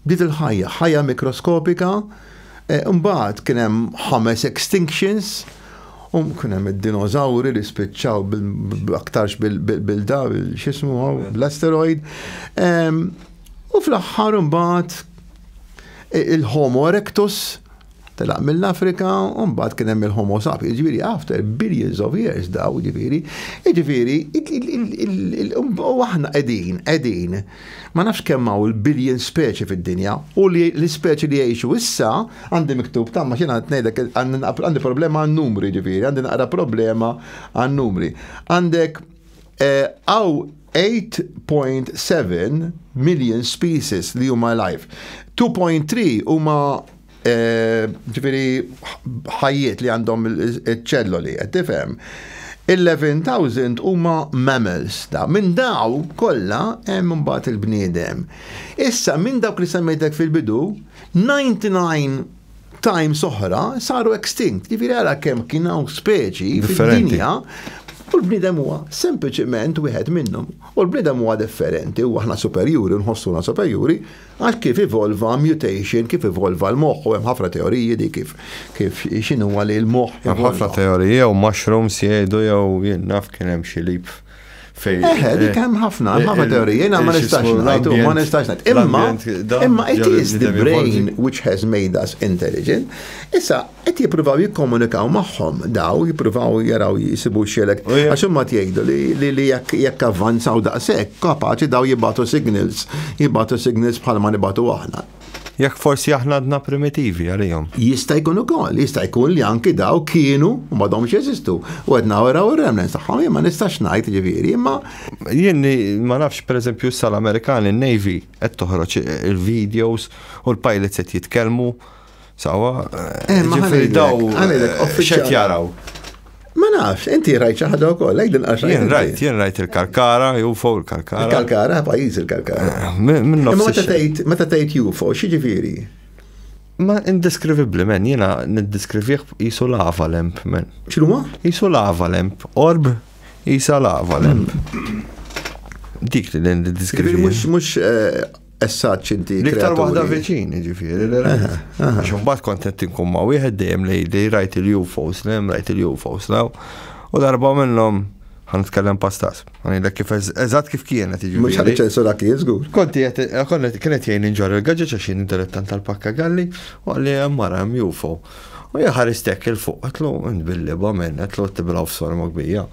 Speaker 1: Bdiet il-ħajja, ħajja mikroskopika, eh, mbagħad kien hemm ħames extinctions, u kien hemm id-dinożawri li spiċċaw aktarx bil-da, x'ismu l-asteroid. U fl-aħħar imbagħad il-Homo erectus telaq mill-Afrika, u mbagħad kien hemm il-Homo sapiens, ġifieri after billions of years daw, ġifieri, ġifieri, u aħna qegħdin, qegħdin, ma nafx kemm hawn il-billion speċi fid-dinja, u li l-ispeċi li jgħixu issa għandi miktub tamma xina ngħidlek għandi problema għan-numri ġifieri, għandi naqra problema għan-numri. Għandek eh, hawn 8.7 million species li huma live. 2.3 huma eh, ġifieri ħajjiet li għandhom iċ-ċelloli, qed tifhem. 11,000 huma mammals da. Minn daw kollha hemm imbagħad il-bniedem. Issa minn dawk li semmejtek fil-bidu, 99 times oħra saru extinct. Jiġifieri ara kemm kien hawn speċi fid-dinja u l-bniedem huwa sempliċement wieħed minnhom. U l-bniedem huwa differenti u aħna superjuri nħossuna superjuri għal kif evolva mutation, kif evolva l-moħħ u hemm ħafna teoriji di kif kif x'inhu li l-moħħ. Hemm ħafna teoriji jew mushrooms jgħidu jew jien naf kien hemm xi lip Fej. Eħe, dik hemm ħafna, hemm ħafna teorija, jiena ma nistax ngħidu, ma nistax ngħid. Imma imma it is the brain which has made us intelligent. Issa qed jippruvaw jikkomunikaw magħhom daw, jippruvaw jaraw jisibu xelek. Għax huma jgħidu li li jekk avvanzaw daqshekk, kapaċi daw jibatu signals, jibatu signals bħalma nibatu aħna. Jekk forsi aħna għadna primitivi għalihom. Jista' jkun ukoll, jista' jkun li anki daw kienu u m'għadhomx jeżistu. U qed nawraw ir-remnants tagħhom jien ma nistax ngħid ġifieri, imma Jien ma nafx pereżempju issa l-Amerikani n-Navy qed toħroġ il-videos u l-pilots qed jitkellmu Sawa, eh, ma ġifiri daw, eh, xet jaraw. Ma nafx, inti rajt ċaħda u koll, lejk din għaxa. Jien rajt, jien rajt il-kalkara, ju fuq il-kalkara. Il-kalkara, pajis il-kalkara. Eh, minn nofs. Ma ta' tajt ju fuq, xieġifiri? Ma indeskrivibli men, jena nindeskrivih jisu lava lemp men. ċinu ma? Jisu lava lemp, orb jisa lava lemp. Mm. Dik li nindeskrivih. Mux, mux, eh, Essaċ inti. L-iktar waħda viċin, ġifiri, għax mbagħad kontent inkun ma' wieħed dejjem lejli rajt il-UFOs, lejjem rajt il-UFOs law. U darba minnhom ħan nitkellem pastas. Għanilek kif eżatt kif kienet iġi. Mux ħalli ċensura kien zgur. Konti għet, eh, konnet kienet jgħin inġar il-gagġa ċaxin dilettant tal-pakka galli, u għalli għammara għam jufo. U jħaristek il-fuq, għatlu, nbilli ba minn, għatlu t-tibraw f-sorma gbija.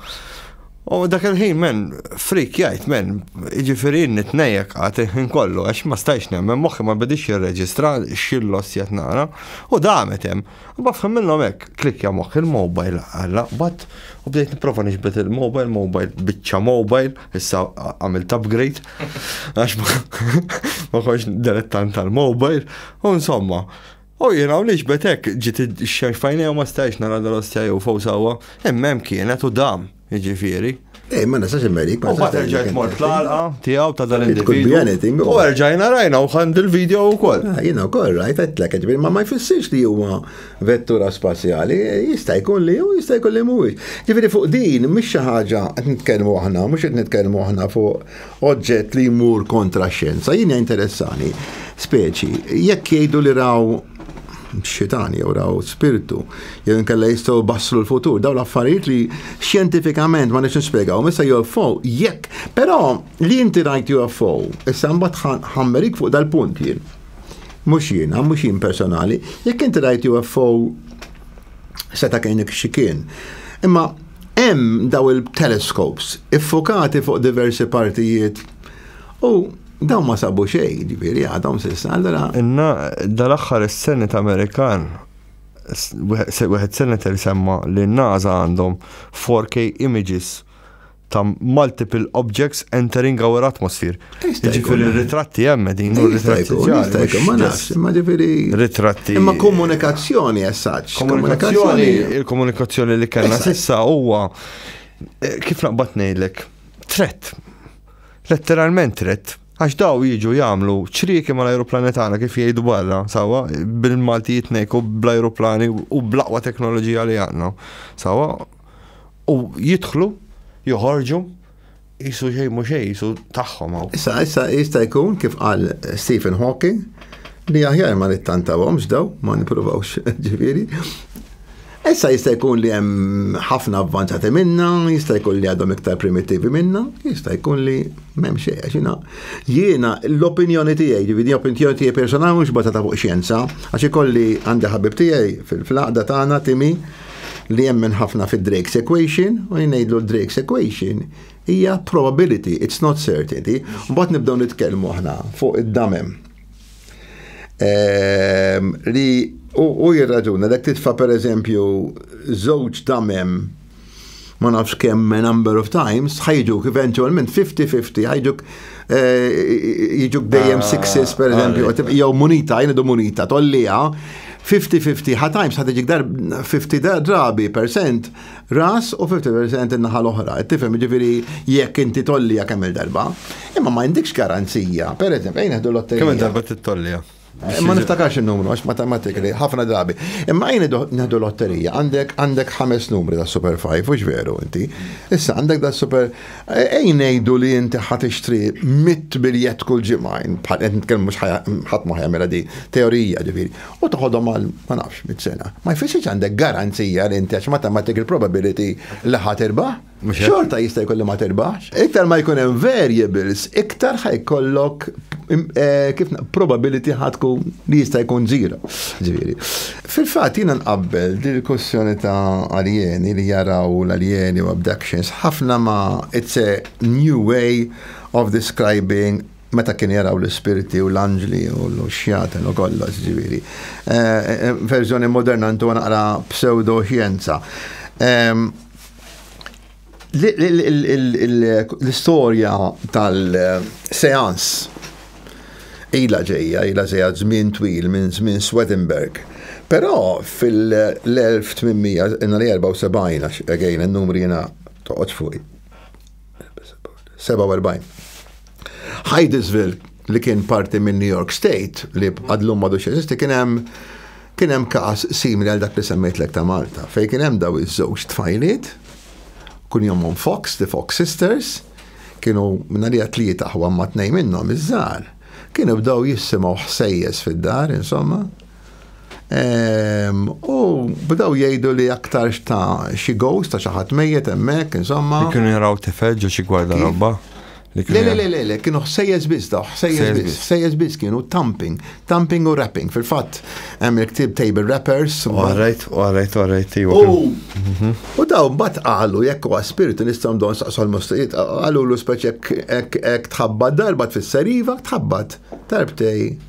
Speaker 1: U dak il-ħin men, frik jgħid men, jiġifieri nitnejjek għad il-ħin kollu għax ma stajx nemmen moħħi ma bidix jirreġistra xillos jgħat nara u damet hemm. U bafhem minnhom hekk klikja moħħ il-mobile għalla bat u bdejt nipprova nixbet il-mobile, mobile biċċa mobile, issa għamilt upgrade għax ma konx dilettant tal-mobile u insomma. U jien hawn iġbed hekk ġiet ix-xemx fajnejha ma stajx nara dal-ostja jew fo sawwa, imma hemm kienet u dam, jiġifieri. Ej, ma nistax immerik. U bat erġajt mort fl-għalqa tiegħu ta' dan il-individu. U erġajna rajna u ħand il-video wkoll. Ah, jiena wkoll rajt għedlek, ġifieri ma ma jfissirx li huwa vettura spazjali, jista' jkun li hu, jista' jkun li mhuwiex. Ġifieri fuq din mhix xi ħaġa qed nitkellmu aħna, mhux qed nitkellmu aħna fuq oġġett li jmur kontra x-xjenza. Jien interessani, speċi, jekk jgħidu li raw xitan jew raw spirtu, jew inkella jistgħu basslu l-futur, dawn l-affarijiet li xjentifikament ma nix nispjegaw, issa UFO, jekk, però li inti rajt UFO, issa mbagħad ħammerik fuq dal-punt jien. Mhux jien, mhux jien personali, jekk inti rajt UFO seta' kienik xi kien. Imma Hemm dawn il-telescopes iffukati fuq diversi partijiet u dawn ma sabu xejn, ġifieri għadhom s'issa allura. Inna dal-aħħar is-Senate Amerikan wieħed senator semma li n-NASA għandhom 4K images ta' multiple objects entering our atmosphere. Ġifiri ritratti hemm din u ritratti ġari. Ma nafx, ma ġifiri. Ritratti. Imma komunikazzjoni essaċ. Komunikazzjoni, il-komunikazzjoni li kellna sissa huwa eh, kif naqbad ngħidlek, tret. Letteralment tret. Għax daw jiġu jagħmlu ċrieki mal ajruplani tagħna kif jgħidu barra, sawa, bil-Malti jitnejku bl ajruplani u blaqwa teknoloġija li għandna. Sawa, u jidħlu, joħorġu, Isu xej mhux xej, isu tagħhom hawn. Issa, issa jista' jkun kif qal Stephen Hawking li aħjar ma nittantawhomx daw, ma nippruvawx ġifieri. Issa jista' jkun li hemm ħafna avvanzati minna, jista' jkun li għadhom iktar primittivi minna, jista' jkun li m'hemm xejn għax jiena jiena l-opinjoni tiegħi, ġifieri opinjoni tiegħi personali mhux bażata fuq xjenza, għax ikolli għandi ħabib tiegħi fil-flaqda tagħna Timi li jemmen ħafna fi Drake's equation u jnejdlu Drake's equation hija probability, it's not certainty. Mbagħad nibdew nitkellmu aħna fuq id-damem. Ehm, li u jirraġuna dak titfa' pereżempju żewġ damem ma nafx kemm number of times, ħajġuk eventualment 50-50, ħajġuk eh, jiġuk dejjem ah, sixes per eżempju, ah, jew munita, jnidu munita, tollija, 50-50, ħa times ħad iġik dar 50 drabi percent ras u 50% in-naħa l-oħra. Tifhem ġifieri jekk inti tollija kemm il-darba. Imma ma jindikx garanzija, per eżempju, jneħdu l-otterija. Kemm il-darba tittollija? Ma niftakarx il-numru, għax matematikali, ħafna drabi. Imma għajni neħdu lotterija, għandek għandek ħames numri da Super 5, ux veru inti. Issa għandek da Super, għajn nejdu li inti ħat ixtri mit biljet kull ġimajn, bħal għed nitkellmu mux ħat maħja mela di, teorija ġifiri. U taħodhom għal, ma nafx, mit sena. Ma jfissi għandek garanzija li inti għax matematik il-probability li ħat irbaħ. Xorta jista' jkolli ma terbaħx. Iktar ma jkun hemm variables, iktar ħajkollok eh, kif probability ħadku li jista' jkun zero. Ġifieri. Fil-fatt jiena nqabbel din il-kussjoni ta' aljeni li jaraw l-aljeni u abductions ħafna ma it's a new way of describing meta kien jaraw l-ispirti u l-anġli u l-xjaten u kollox ġifieri. Eh, eh, verżjoni moderna ntu naqra pseudo xjenza. Ehm, L-istorja tal-seans ila ġejja, ila ġejja żmien twil minn żmien Swedenberg. Però fil-1874, again, n-numri jena toqgħodx fuqi. 47. Hydesville li kien parti minn New York State li għadlum madu xesisti kien hemm kien hemm każ simili għal dak li semmejtlek ta' Malta fejn kien hemm daw iż-żewġ tfajliet kun jomhom Fox, the Fox Sisters, kienu minna li tlieta ħwa ma tnej minnhom iż-żgħar, kienu bdew jissimgħu ħsejjes fid-dar, insomma, U bdaw jgħidu li aktar ta' xi ghost ta' xi ħadd mejjet hemmhekk, insomma. Kienu jaraw tifel ġo xi gwarda robba. Le, le, le, le, kienu ħsejjes biss daw, ħsejjes biss, ħsejjes biss kienu tamping, tamping u wrapping. Fil-fatt, hemm il-ktib table wrappers. Għarajt, għarajt, għarajt, iwa. Mhm. U daw bat qalu jekk huwa spiritu nistgħu dawn saqsu l-mustajiet, qalu l-uspeċ jekk tħabbat darba tfisser iva, tħabbat darbtej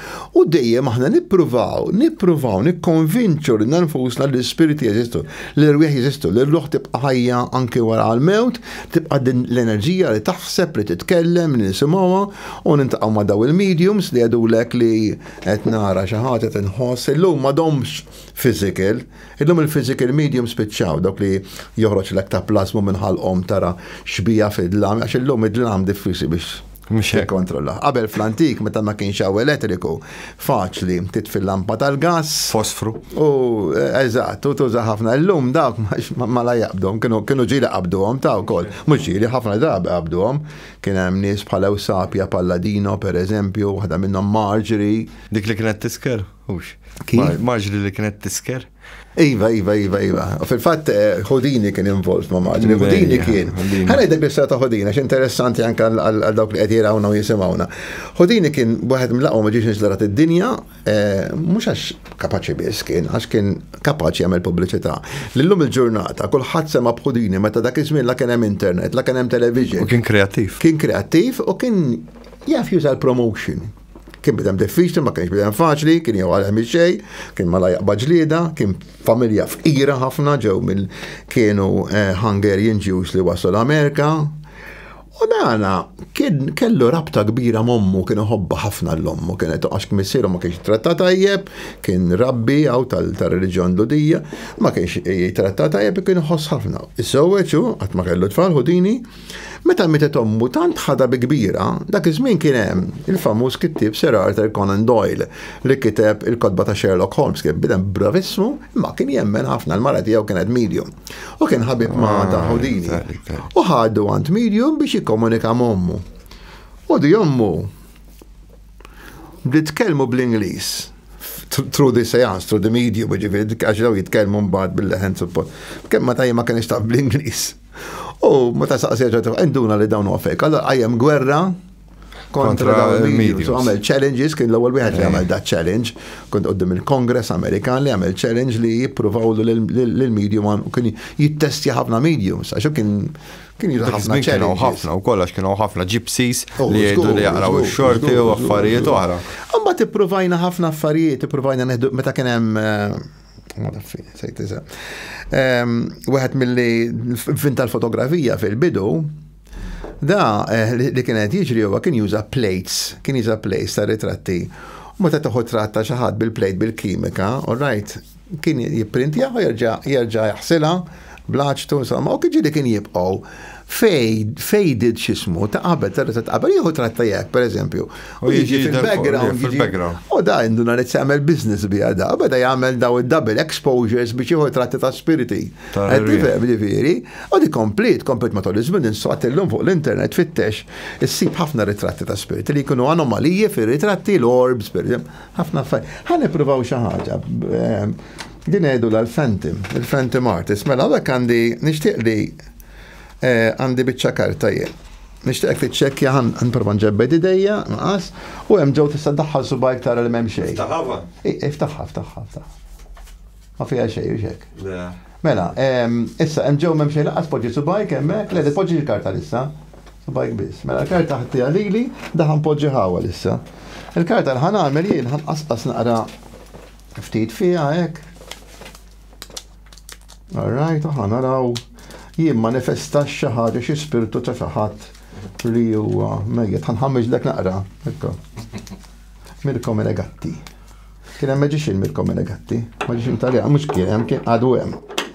Speaker 1: U dejjem aħna nippruvaw, nippruvaw nikkonvinċu lil nfusna li l-ispiriti jeżistu, li l-erwieħ jeżistu, li r-ruħ tibqa' ħajja anki wara l-mewt, tibqa' din l-enerġija li taħseb, li titkellem, li nisimgħuha u niltaqgħu ma' dawn il-mediums li jgħidulek li qed nara xi ħadd, qed inħoss. Illum m'għadhomx physical, illum il-physical mediums spiċċaw, dawk li joħroġlek ta' plasma minn ħalqhom tara xbieha fid-dlam, għax illum id-dlam diffiċli biex Mhux hekk. Kontrolla. Qabel fl-antik meta ma kienx hawn elettriku, faċli titfil lampa tal-gas. Fosfru. U eh, eżatt, u tuża ħafna llum dawk ma la jaqbdhom, kienu kienu ġieli qabduhom ta' wkoll. Mhux ġieli ħafna drabi qabduhom. Kien hemm nies bħal Ewsapja Palladino pereżempju, waħda minnhom Marjorie. Dik li kienet tisker? Hux. Kif? Marġri li kienet tisker? Iva, iva, iva, iva. Fil-fatt, eh, Houdini kien involved ma' maġni. Houdini kien. Għana id bil ta' Houdini, għax interessanti anka għal dawk li għed jirawna u jisimawna. Houdini kien bħed mlaqo ma ġiex nizlarat id-dinja, eh, mux għax kapaċi bis kien, għax kien kapaċi għamil publicita. L-lum il-ġurnata, kullħat sema b'Houdini, meta dak iż la kien hemm internet, la kien hemm television. U kien kreativ. Kien kreativ u kien jaf juża l-promotion. Kien bidem diffiċli, ma kienx bidem faċli, kien jew għalem xej, kien ma lajaq baġlida, kien familja fqira ħafna ġew mill kienu eh, Hungarian Jews li waslu l-Amerika. U dana kien kellu rabta kbira mommu kien iħobba ħafna l-ommu, kien qed għax missieru ma kienx tratta tajjeb, kien rabbi għaw tal-reliġjon ludija, ma kienx jitratta tajjeb kien iħoss ħafna. Is-sewweċu qatt ma kellu tfal ħudini, Meta mietet ommu tant ħadha bi kbira, dak iż-żmien kien hemm il-famuż kittieb Sir Arthur Conan Doyle li kiteb il-kotba ta' Sherlock Holmes, kien bniedem bravissimu imma kien jemmen ħafna li l-mara tiegħu kienet medium u kien ħabib ma' ta' Houdini. U ħadu għand medium biex jikkomunika ma' ommu. U di ommu bdiet tkellmu bl-Ingliż through the seance, through the medium, ġifieri għax daw jitkellmu mbagħad bil-leħen suppost. Kemm ma tajja ma kienx taf bl-Ingliż. U meta saqsija ġodda, induna li dawn huwa fejk. Allora għajem gwerra kontra il-medium. Għamel challenges, kien l-ewwel wieħed li eh. għamel da challenge, kont qoddim il-Kongress Amerikan li għamel challenge li jippruvaw l-medium u kien jittestja ħafna mediums, għaxu kien kien jidu ħafna ċerri. ħafna u kollax kienu ħafna ġipsis oh, li jgħidu li jaqraw xorti u affarijiet oħra. Għamma t-provajna ħafna affarijiet, t-provajna neħdu meta kien hemm eh, Madaffini, sejt nisa. Wieħed mill-li fin tal-fotografija fil-bidu, da eh, li kien qed jiġri huwa kien juża plates, kien juża plates ta' ritratti. U meta toħu tratta xi ħadd bil-plate bil-kimika, all right, kien jipprintja u jerġa' jerġa' jaħsilha Blaċtu, insomma, u kħiġili kien jibqaw fejdid xismu ta' qabel, ta' ta' qabel, jieħu tratta jek, per eżempju. U jiġi fil-background. U da għandu narit jagħmel business bi da, bada jagħmel daw il-double exposures biex jieħu tratta ta' spiriti. Għedifem, ġifiri, u di komplet, komplet matul iż-żmien insaqt illum fuq l-internet fittex, issib ħafna ritratti ta' spiriti li jkunu anomalije fir-ritratti l-orbs, per eżempju, ħafna affarijiet. Ħan nippruvaw xi ħaġa. Ehm, Din jgħidulha l-Phantom, il-Phantom Artist. Mela hawnhekk għandi nixtieq li eh, għandi biċċa karta jien. Nixtieqek tiċċekkja ħan nipprova nġebbed idejja, nqas, u hemm ġew tista' daħħal subajk tara li m'hemm xejn. Taħava? Iftaħħa, iftaħħa, iftaħħa. Ma fiha xejn, u xek. Mela, ehm, issa hemm ġew m'hemm xejn laqas poġġi subajk hemmhekk, le poġġi l-karta lissa. Subajk biss. Mela l-karta ħattija lili, daħan poġġi ħawa lissa. Il-karta l-ħan għamel jien ħan qasqas naqra Ftit fiha hekk. Alright, aħna naraw jien manifesta xi ħaġa xi spirtu ta' xi ħadd li huwa mejjet. Ħanħammeġ dak naqra. Mirko Menegatti. Kien hemm meġixin Mirko Menegatti, meġixin Taljan, mhux kien hemm kien għadu hemm.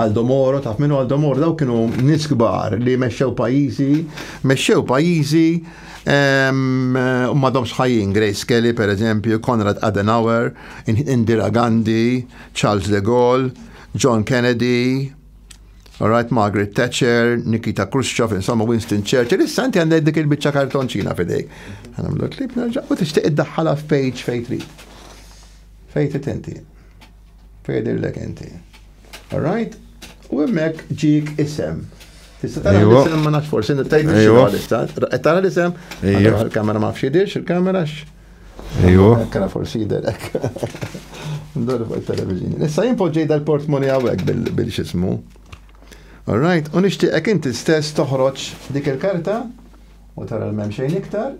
Speaker 1: Aldo Moro, taf minu Aldo Moro, daw kienu nis kbar li meċċew pajizi, meċċew pajizi madom sħajin, Grace Kelly per eżempju, Konrad Adenauer, Indira Gandhi, Charles de Gaulle, John Kennedy, Alright, Margaret Thatcher, Nikita Khrushchev, insomma Winston Churchill, issa inti għandek dik il-bicċa kartonċina fidejk. Għanamlu klip nerġa' u tixtieq id-daħħala fejġ fejtri. Fejtri tenti. Tgħidillek inti. Alright? U hemmhekk ġik isem. Tista' tara Iva. l-isem ma nafx forsi nittajdu xi Iva. għalissa. Qed tara l-isem? Iva. Allora, Il-kamera ma fxidix, il-kamera x. Ejwa. Kena forsi jiderek. Ndor fuq il-televizjoni. Issa jien poġġej dal-portmoni għawek bil- bil-xismu. Alright, u nixtieqek inti stess toħroġ dik il-karta u tara l-mem xejn iktar.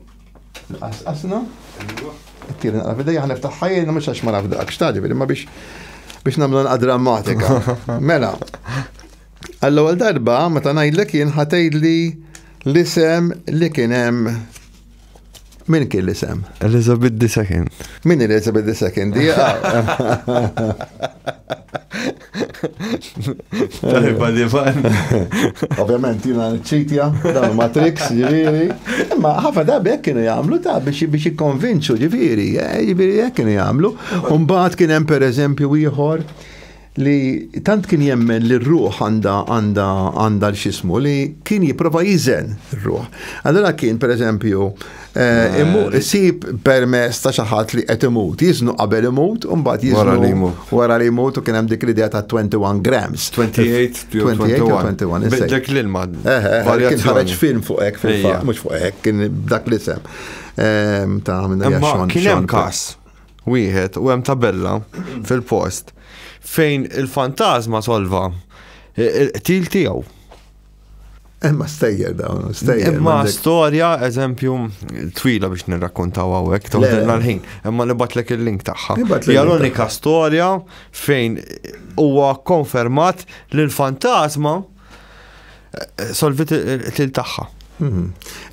Speaker 1: Nqasqasna. Tiri naqra fidejja ħa niftaħ ħajjina mhux għax ma naf dak xtadi fil ma biex biex nagħmlu nqa drammatika. Mela. Għall-ewwel darba meta ngħidlek jien ħatejdli l-isem li kien hemm Min kien l-isem? Elizabeth II. Min Elizabeth II? Dija. Tajba li fan. Ovvjament, jina ċitja, dan ma triks, ġiviri. Imma ħafna darbi jek kienu jgħamlu ta' biex biex jikonvinċu, ġiviri, eh, ġiviri jek kienu jgħamlu. Umbaħt kien hemm per eżempju ieħor li tant kien jemmen li r-ruħ għanda għanda għanda l-xismu li kien jiprofa jizen r-ruħ. Allora kien per eżempju Eh, immu eh, sib permess ta' xaħat li qed imut, jiznu qabel imut, u mbagħad jiznu wara li imut u kien hemm dik l-idea ta' 21 grams. 28 21. Dak l-ilma. Eh, kien ħareġ film fuq hekk fil-fatt, mhux fuq hekk, kien dak l-isem. Ehm, ta' minn Kien hemm każ wieħed u hemm tabella fil-post fejn il-fantasma solva il-qtil tiegħu Emma eh, stejjer dawn, stejjer. Emma eh, storja, eżempju, twila biex nirrakkontaw għawek, toħdilna l-ħin. Emma nibatlek il-link taħħa. Hija l-unika storja fejn huwa konfermat li l-fantasma eh, solvit il taħħa. Mhm.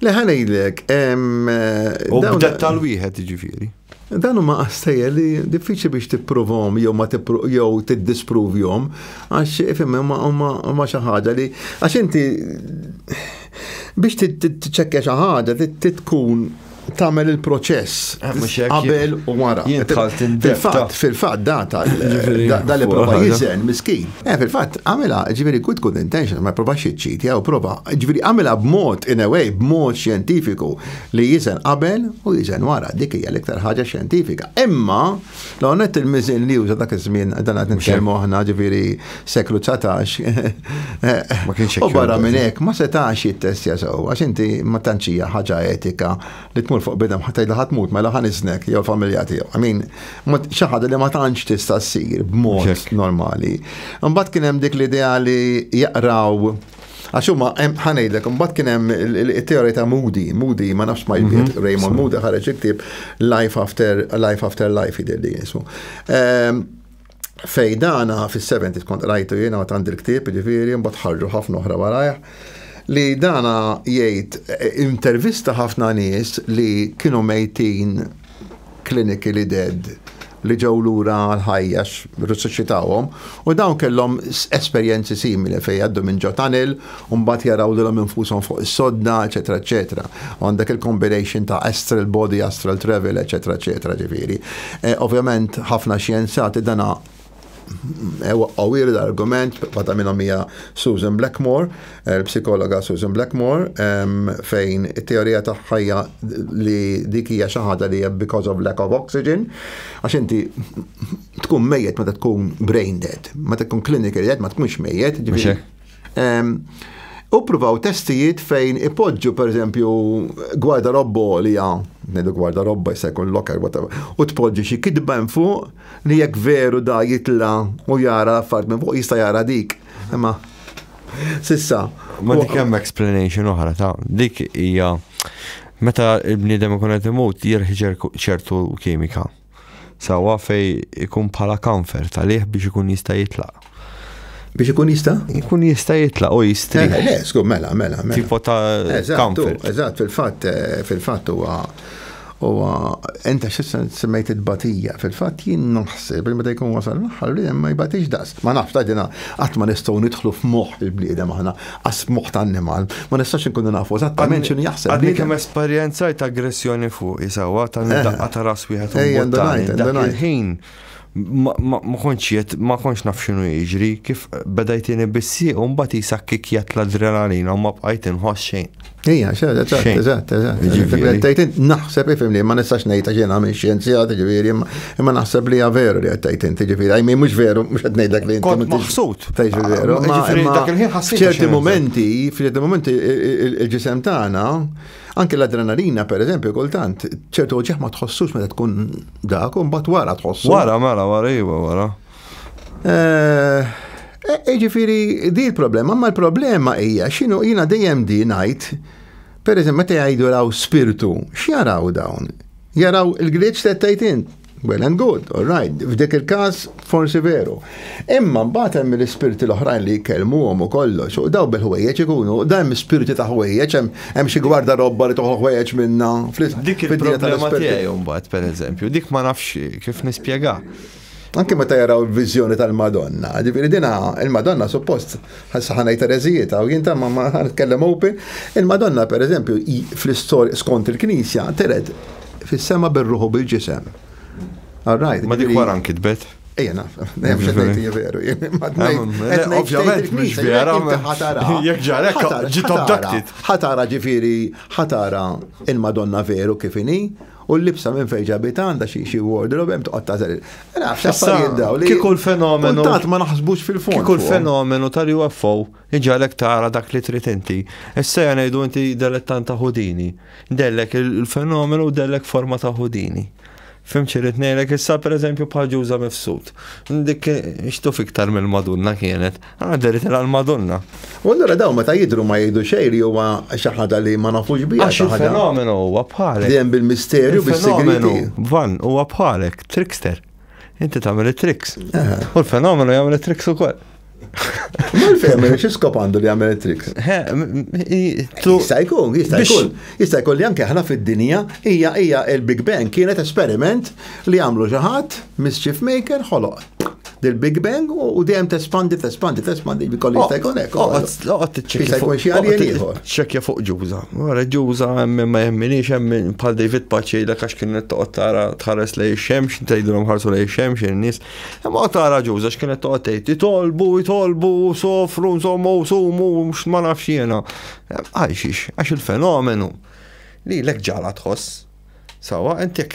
Speaker 1: Leħanejlek, u bdet tal-wieħed ġifiri. Dan huma qastejjer li diffiċli biex tipprovhom jew ma jew tiddispruvjhom għax ifhem huma xi ħaġa li għax inti biex tiċċekkja xi ħaġa tkun tagħmel il-proċess eh, qabel u wara. Fil-fatt, fil-fatt data da li prova jiżen miskin. Eh fil-fatt għamilha ġifieri good good intention ma prova xiċċit jew prova ġifieri għamilha b'mod in a way b'mod xjentifiku Li jiżen qabel u jiżen wara, dik hija l-iktar ħaġa xjentifika. Imma, l-għonet il-miżin li juża dak iż-żmien dan qed nitkellmu aħna ġifieri seklu 19. Ma kienx U barra minn hekk ma setax jittestja sew għax inti ma tantx hija ħaġa etika li tmur fuq bidem ħadd tgħidha ħadd mut mela ħa niżnek jew familja tiegħu. I mean, xi ħaġa li ma tantx tista' ssir b'mod normali. Imbagħad kien hemm dik l-idea li jaqraw Għax huma ħa ngħidlek, imbagħad kien hemm it-teorija ta' Moody, Moody ma nafx ma jbiet, mhm. Raymond Moody ħareġ iktib Life After Life After Life jidher li jisu. Ehm, Fejdana fis-70 kont rajtu jiena ma tandi l-ktieb, ġifieri, mbagħad ħarġu ħafna oħra warajh li dana jgħid eh, intervista ħafna nies li kienu mejtin clinically dead li ġew lura l-ħajja risusċitawhom u dawn kellhom esperjenzi simili fejn jgħaddu minn ġo tunnel u mbagħad jaraw lilhom infushom fuq is-sodda, eċetera, eċetera. Għandek il-combination ta' astral body, astral travel, eċetera, eċetera, ġifieri. Eh, ovvjament ħafna xjenzati dana Ewa qawwir l-argument waħda minnhom hija Susan Blackmore, eh, l-psikologa Susan Blackmore, fejn it-teorija tagħha hija li dik hija xi ħaġa li hija because of lack of oxygen, għax inti tkun mejjet meta tkun brain dead, meta tkun clinical dead ma tkunx mejjet. U provaw testijiet fejn ipoġġu per eżempju gwarda robbo li ja, nedu gwarda robba jista' jkun locker whatever, u tpoġġi xi kitba hemm fuq li jekk veru da jitla u jara affarijiet minn fuq jista' jara dik. Imma sissa. Ma dik hemm explanation oħra ta' dik hija meta l-bniedem ikun qed imut jirħi ċertu kimika. Sawa fej ikun bħala kanfer talih biex ikun jista' jitlaq. Biex ikun jista? Ikun jista jitla u jistri. Eh, le, skur, mela, mela, mela. Tipo ta' comfort. Eżatt, fil-fat, eh, fil-fat huwa huwa enta xissa semmejt il-batija, fil-fat jien naħseb li meta jkun wasal l-aħħar li ma jbatix daqs. Ma nafx ta' dina qatt ma nistgħu nidħlu f'moħħ il-bliedem aħna. Għas moħħ ta' annimal, ma nistax inkunu nafu eżattament x'inhu jaħseb. Għadni kemm esperjenzajt aggressjoni fuq isawa ta' eh. daqqa ta' ras wieħed u il-ħin ma konċ jiet, ma konċ naf xinu jiġri, kif bedajtini bissi, un bat jisak kikjat l-adrenalina, ma bqajt inħoss xejn. Ija, xed, eżatt, eżatt, eżatt. Naħseb ifim li ma nistax nejta ġena minn xjenzjat, ġiviri, imma naħseb li veru li għattajt inti ġiviri, għajmi mux veru, mux għat nejdak li inti. Maħsut. Fejx veru. ċerti momenti, f'ċerti momenti il-ġisem tagħna, anke l-adrenalina per eżempju, kultant, ċertu ġeħ ma tħossus meta tkun dak, un bat wara tħossu. Wara, mela, wara, iwa, wara. Eh, e, ġifiri, di l-problema, ma l-problema hija xinu jina dejjem di najt, per eżempju, meta jgħidu raw spirtu, x'jaraw dawn? Jaraw il-glitch ta' tajtin, well and good, all right, f'dik il-kas forsi veru. Imma mbagħad hemm l-ispirti l-oħrajn li jkellmuhom u kollox, u daw bil-ħwejjeġ ikunu, dawn spirti ta' ħwejjeġ, hemm xi gwarda robba li toħu ħwejjeġ minna. Dik il-problema tiegħi mbagħad pereżempju, dik ma nafx kif nispjega. Anke meta jaraw il-viżjoni tal-Madonna, ġifieri dina il-Madonna suppost ħassa ħanaj tereżijiet u jien ma ma nitkellem open, il-Madonna pereżempju fl-istorja skont il-Knisja tered fis-sema bir-ruħu bil-ġisem. All right. Ma dik jiġifieri wara nkitbet. Ejja naf, veru. Ovvjament, mhux vera. Jekk ġarek, ġiet abducted. Ħatara ġifieri, ħatara il-Madonna veru kif inhi, U l-libsa minn fejn ġabita għandha xi xi wardrobe hemm toqgħod tażel. Nafx affarijiet daw li. Kieku l-fenomenu. Tant ma naħsbux fil-fond. Kieku l-fenomenu tal-UFO iġalek tara dak li trid inti. Issa ja ngħidu inti delettan ta' Houdini. Dellek il-fenomenu u dellek forma ta' Houdini. Fimċi rrit ngħidlek issa pereżempju bħal ġuża mifsud. Dik xtuf iktar mill-Madonna kienet. Ah, deri tela l-Madonna. U allura daw meta jidru ma jgħidu xejn li huwa xi ħaġa li ma nafux biha. Għax il-fenomenu huwa bħalek. Dejjem bil-misterju, bis-segretu. Van huwa bħalek, trickster. Inti tagħmel it-tricks. U l-fenomenu jagħmel it-tricks ukoll. Mal-fem, xie skop għandu li għamel tricks? Jista' jkun, jista' jkun. Jista' jkun li anke ħna fid-dinja hija hija il-Big Bang kienet esperiment li għamlu xi ħadd mischief maker ħoloq. del Big Bang u dejjem tespandi, tespandi, tespandi, bikolli jista' jkun hekk. Oqgħod tiċċekkja fuq xi għalien ieħor. Ċekkja fuq ġuża. Wara ġuża hemm ma jemminix hemm bħal David Paċċi l għax kien qed toqgħod tara tħares lej ix-xemx, tgħidilhom ħarsu lej ix-xemx in-nies. Hemm oqgħod tara ġuża x'kien qed toqgħod tgħid itolbu, itolbu, sofru, nsommu, sumu, ma nafx jiena. Għajxix, għax il-fenomenu li l-ek ġala tħoss. Sawa, inti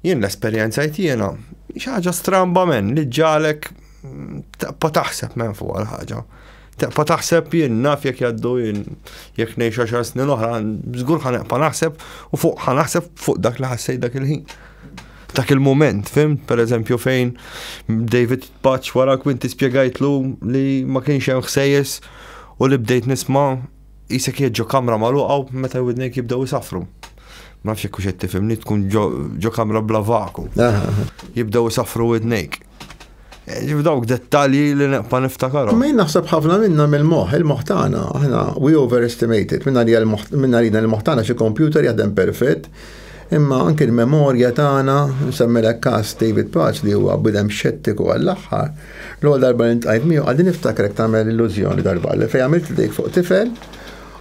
Speaker 1: Jien l-esperjenza jtiena, xaġa stramba men li ġalek mm, taqpa taħseb men fuq għal-ħaġa. Taqpa taħseb jien naf jek jaddu jien jek nejx 10 snin oħra, zgur ħanaqpa naħseb u fuq ħanaħseb fuq dak li ħassej dak il-ħin. Dak il-moment, fim, per eżempju fejn David Patch wara kwinti spiegajtlu li ma kienx hemm ħsejjes u li bdejt nisma Qisek qiegħed ġo kamra magħluqa u meta widnejk jibdew isaffru. Ma nafx jekk hux qed tifhimni tkun ġo kamra bla vaku. Jibdew isaffru widnejk. Eh, ġif dawk dettalji li neqpa niftakar. Ma naħseb ħafna minna mill-moħ, il-moħ tagħna, aħna we overestimated, minna li minna li l-moħ tagħna xi kompjuter jaħdem perfett, Imma anki l-memorja tagħna, nsemmilek każ David Paz li huwa bniedem xettiku għall-aħħar, l-ewwel darba li ntqajt miegħu għadni niftakrek tagħmel illużjoni darba li fejn għamilt idejk fuq tifel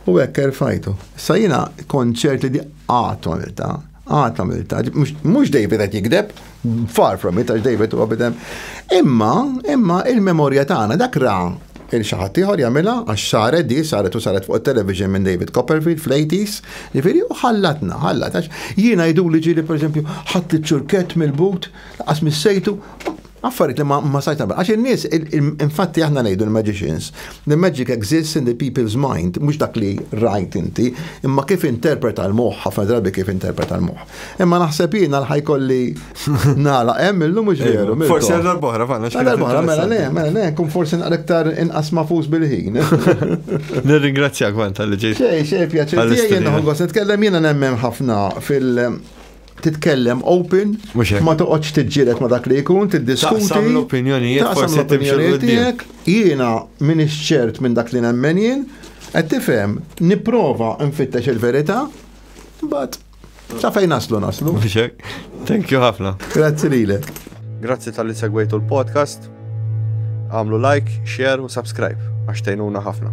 Speaker 1: u hekk erfajtu. Issa jiena kont ċert li di qatt għamiltha, qatt għamiltha, mhux David qed jigdeb, Far from it, għax David huwa bidem. Imma, imma il-memorja tagħna dak ra il-xaħat ieħor jagħmilha għax saret di saret u saret fuq television minn David Copperfield fl-80s, jiġifieri u ħallatna, ħallat għax jiena jdu li ġieli pereżempju ħadd iċ-ċurkett mill-but, qas mis-sejtu, affarijiet li ma sajt nagħmel. Għax in-nies, infatti aħna ngħidu l-magicians, the magic exists in the people's mind, mhux dak li rajt inti, imma kif interpreta l-moħħ, ħafna drabi kif interpreta l-moħħ. Imma naħseb jiena l-ħaj kolli nala, hemm illum mhux veru. Forsi għal darbohra, fanna xkien. Darbohra, mela le, mela le, kun forsi naqrektar inqas mafus bil-ħin. Nirringrazzjak man tal-li ġej. Xej, xej, pjaċir. Jien nħoggos nitkellem jiena nemmen ħafna fil- titkellem open, ma toqgħodx tiġġieled ma dak li jkun, tiddiskuti. Taqsam l-opinjonijiet, taqsam l-opinjonijiet tiegħek, jiena min ċert minn dak li nemmen jien, qed tifhem, nipprova nfittex il-verità, but Sa fejn naslu naslu? Thank you ħafna. Grazzi lilek. Grazzi tal-li segwejtu l-podcast. Għamlu like, share u subscribe għax tejnuna ħafna.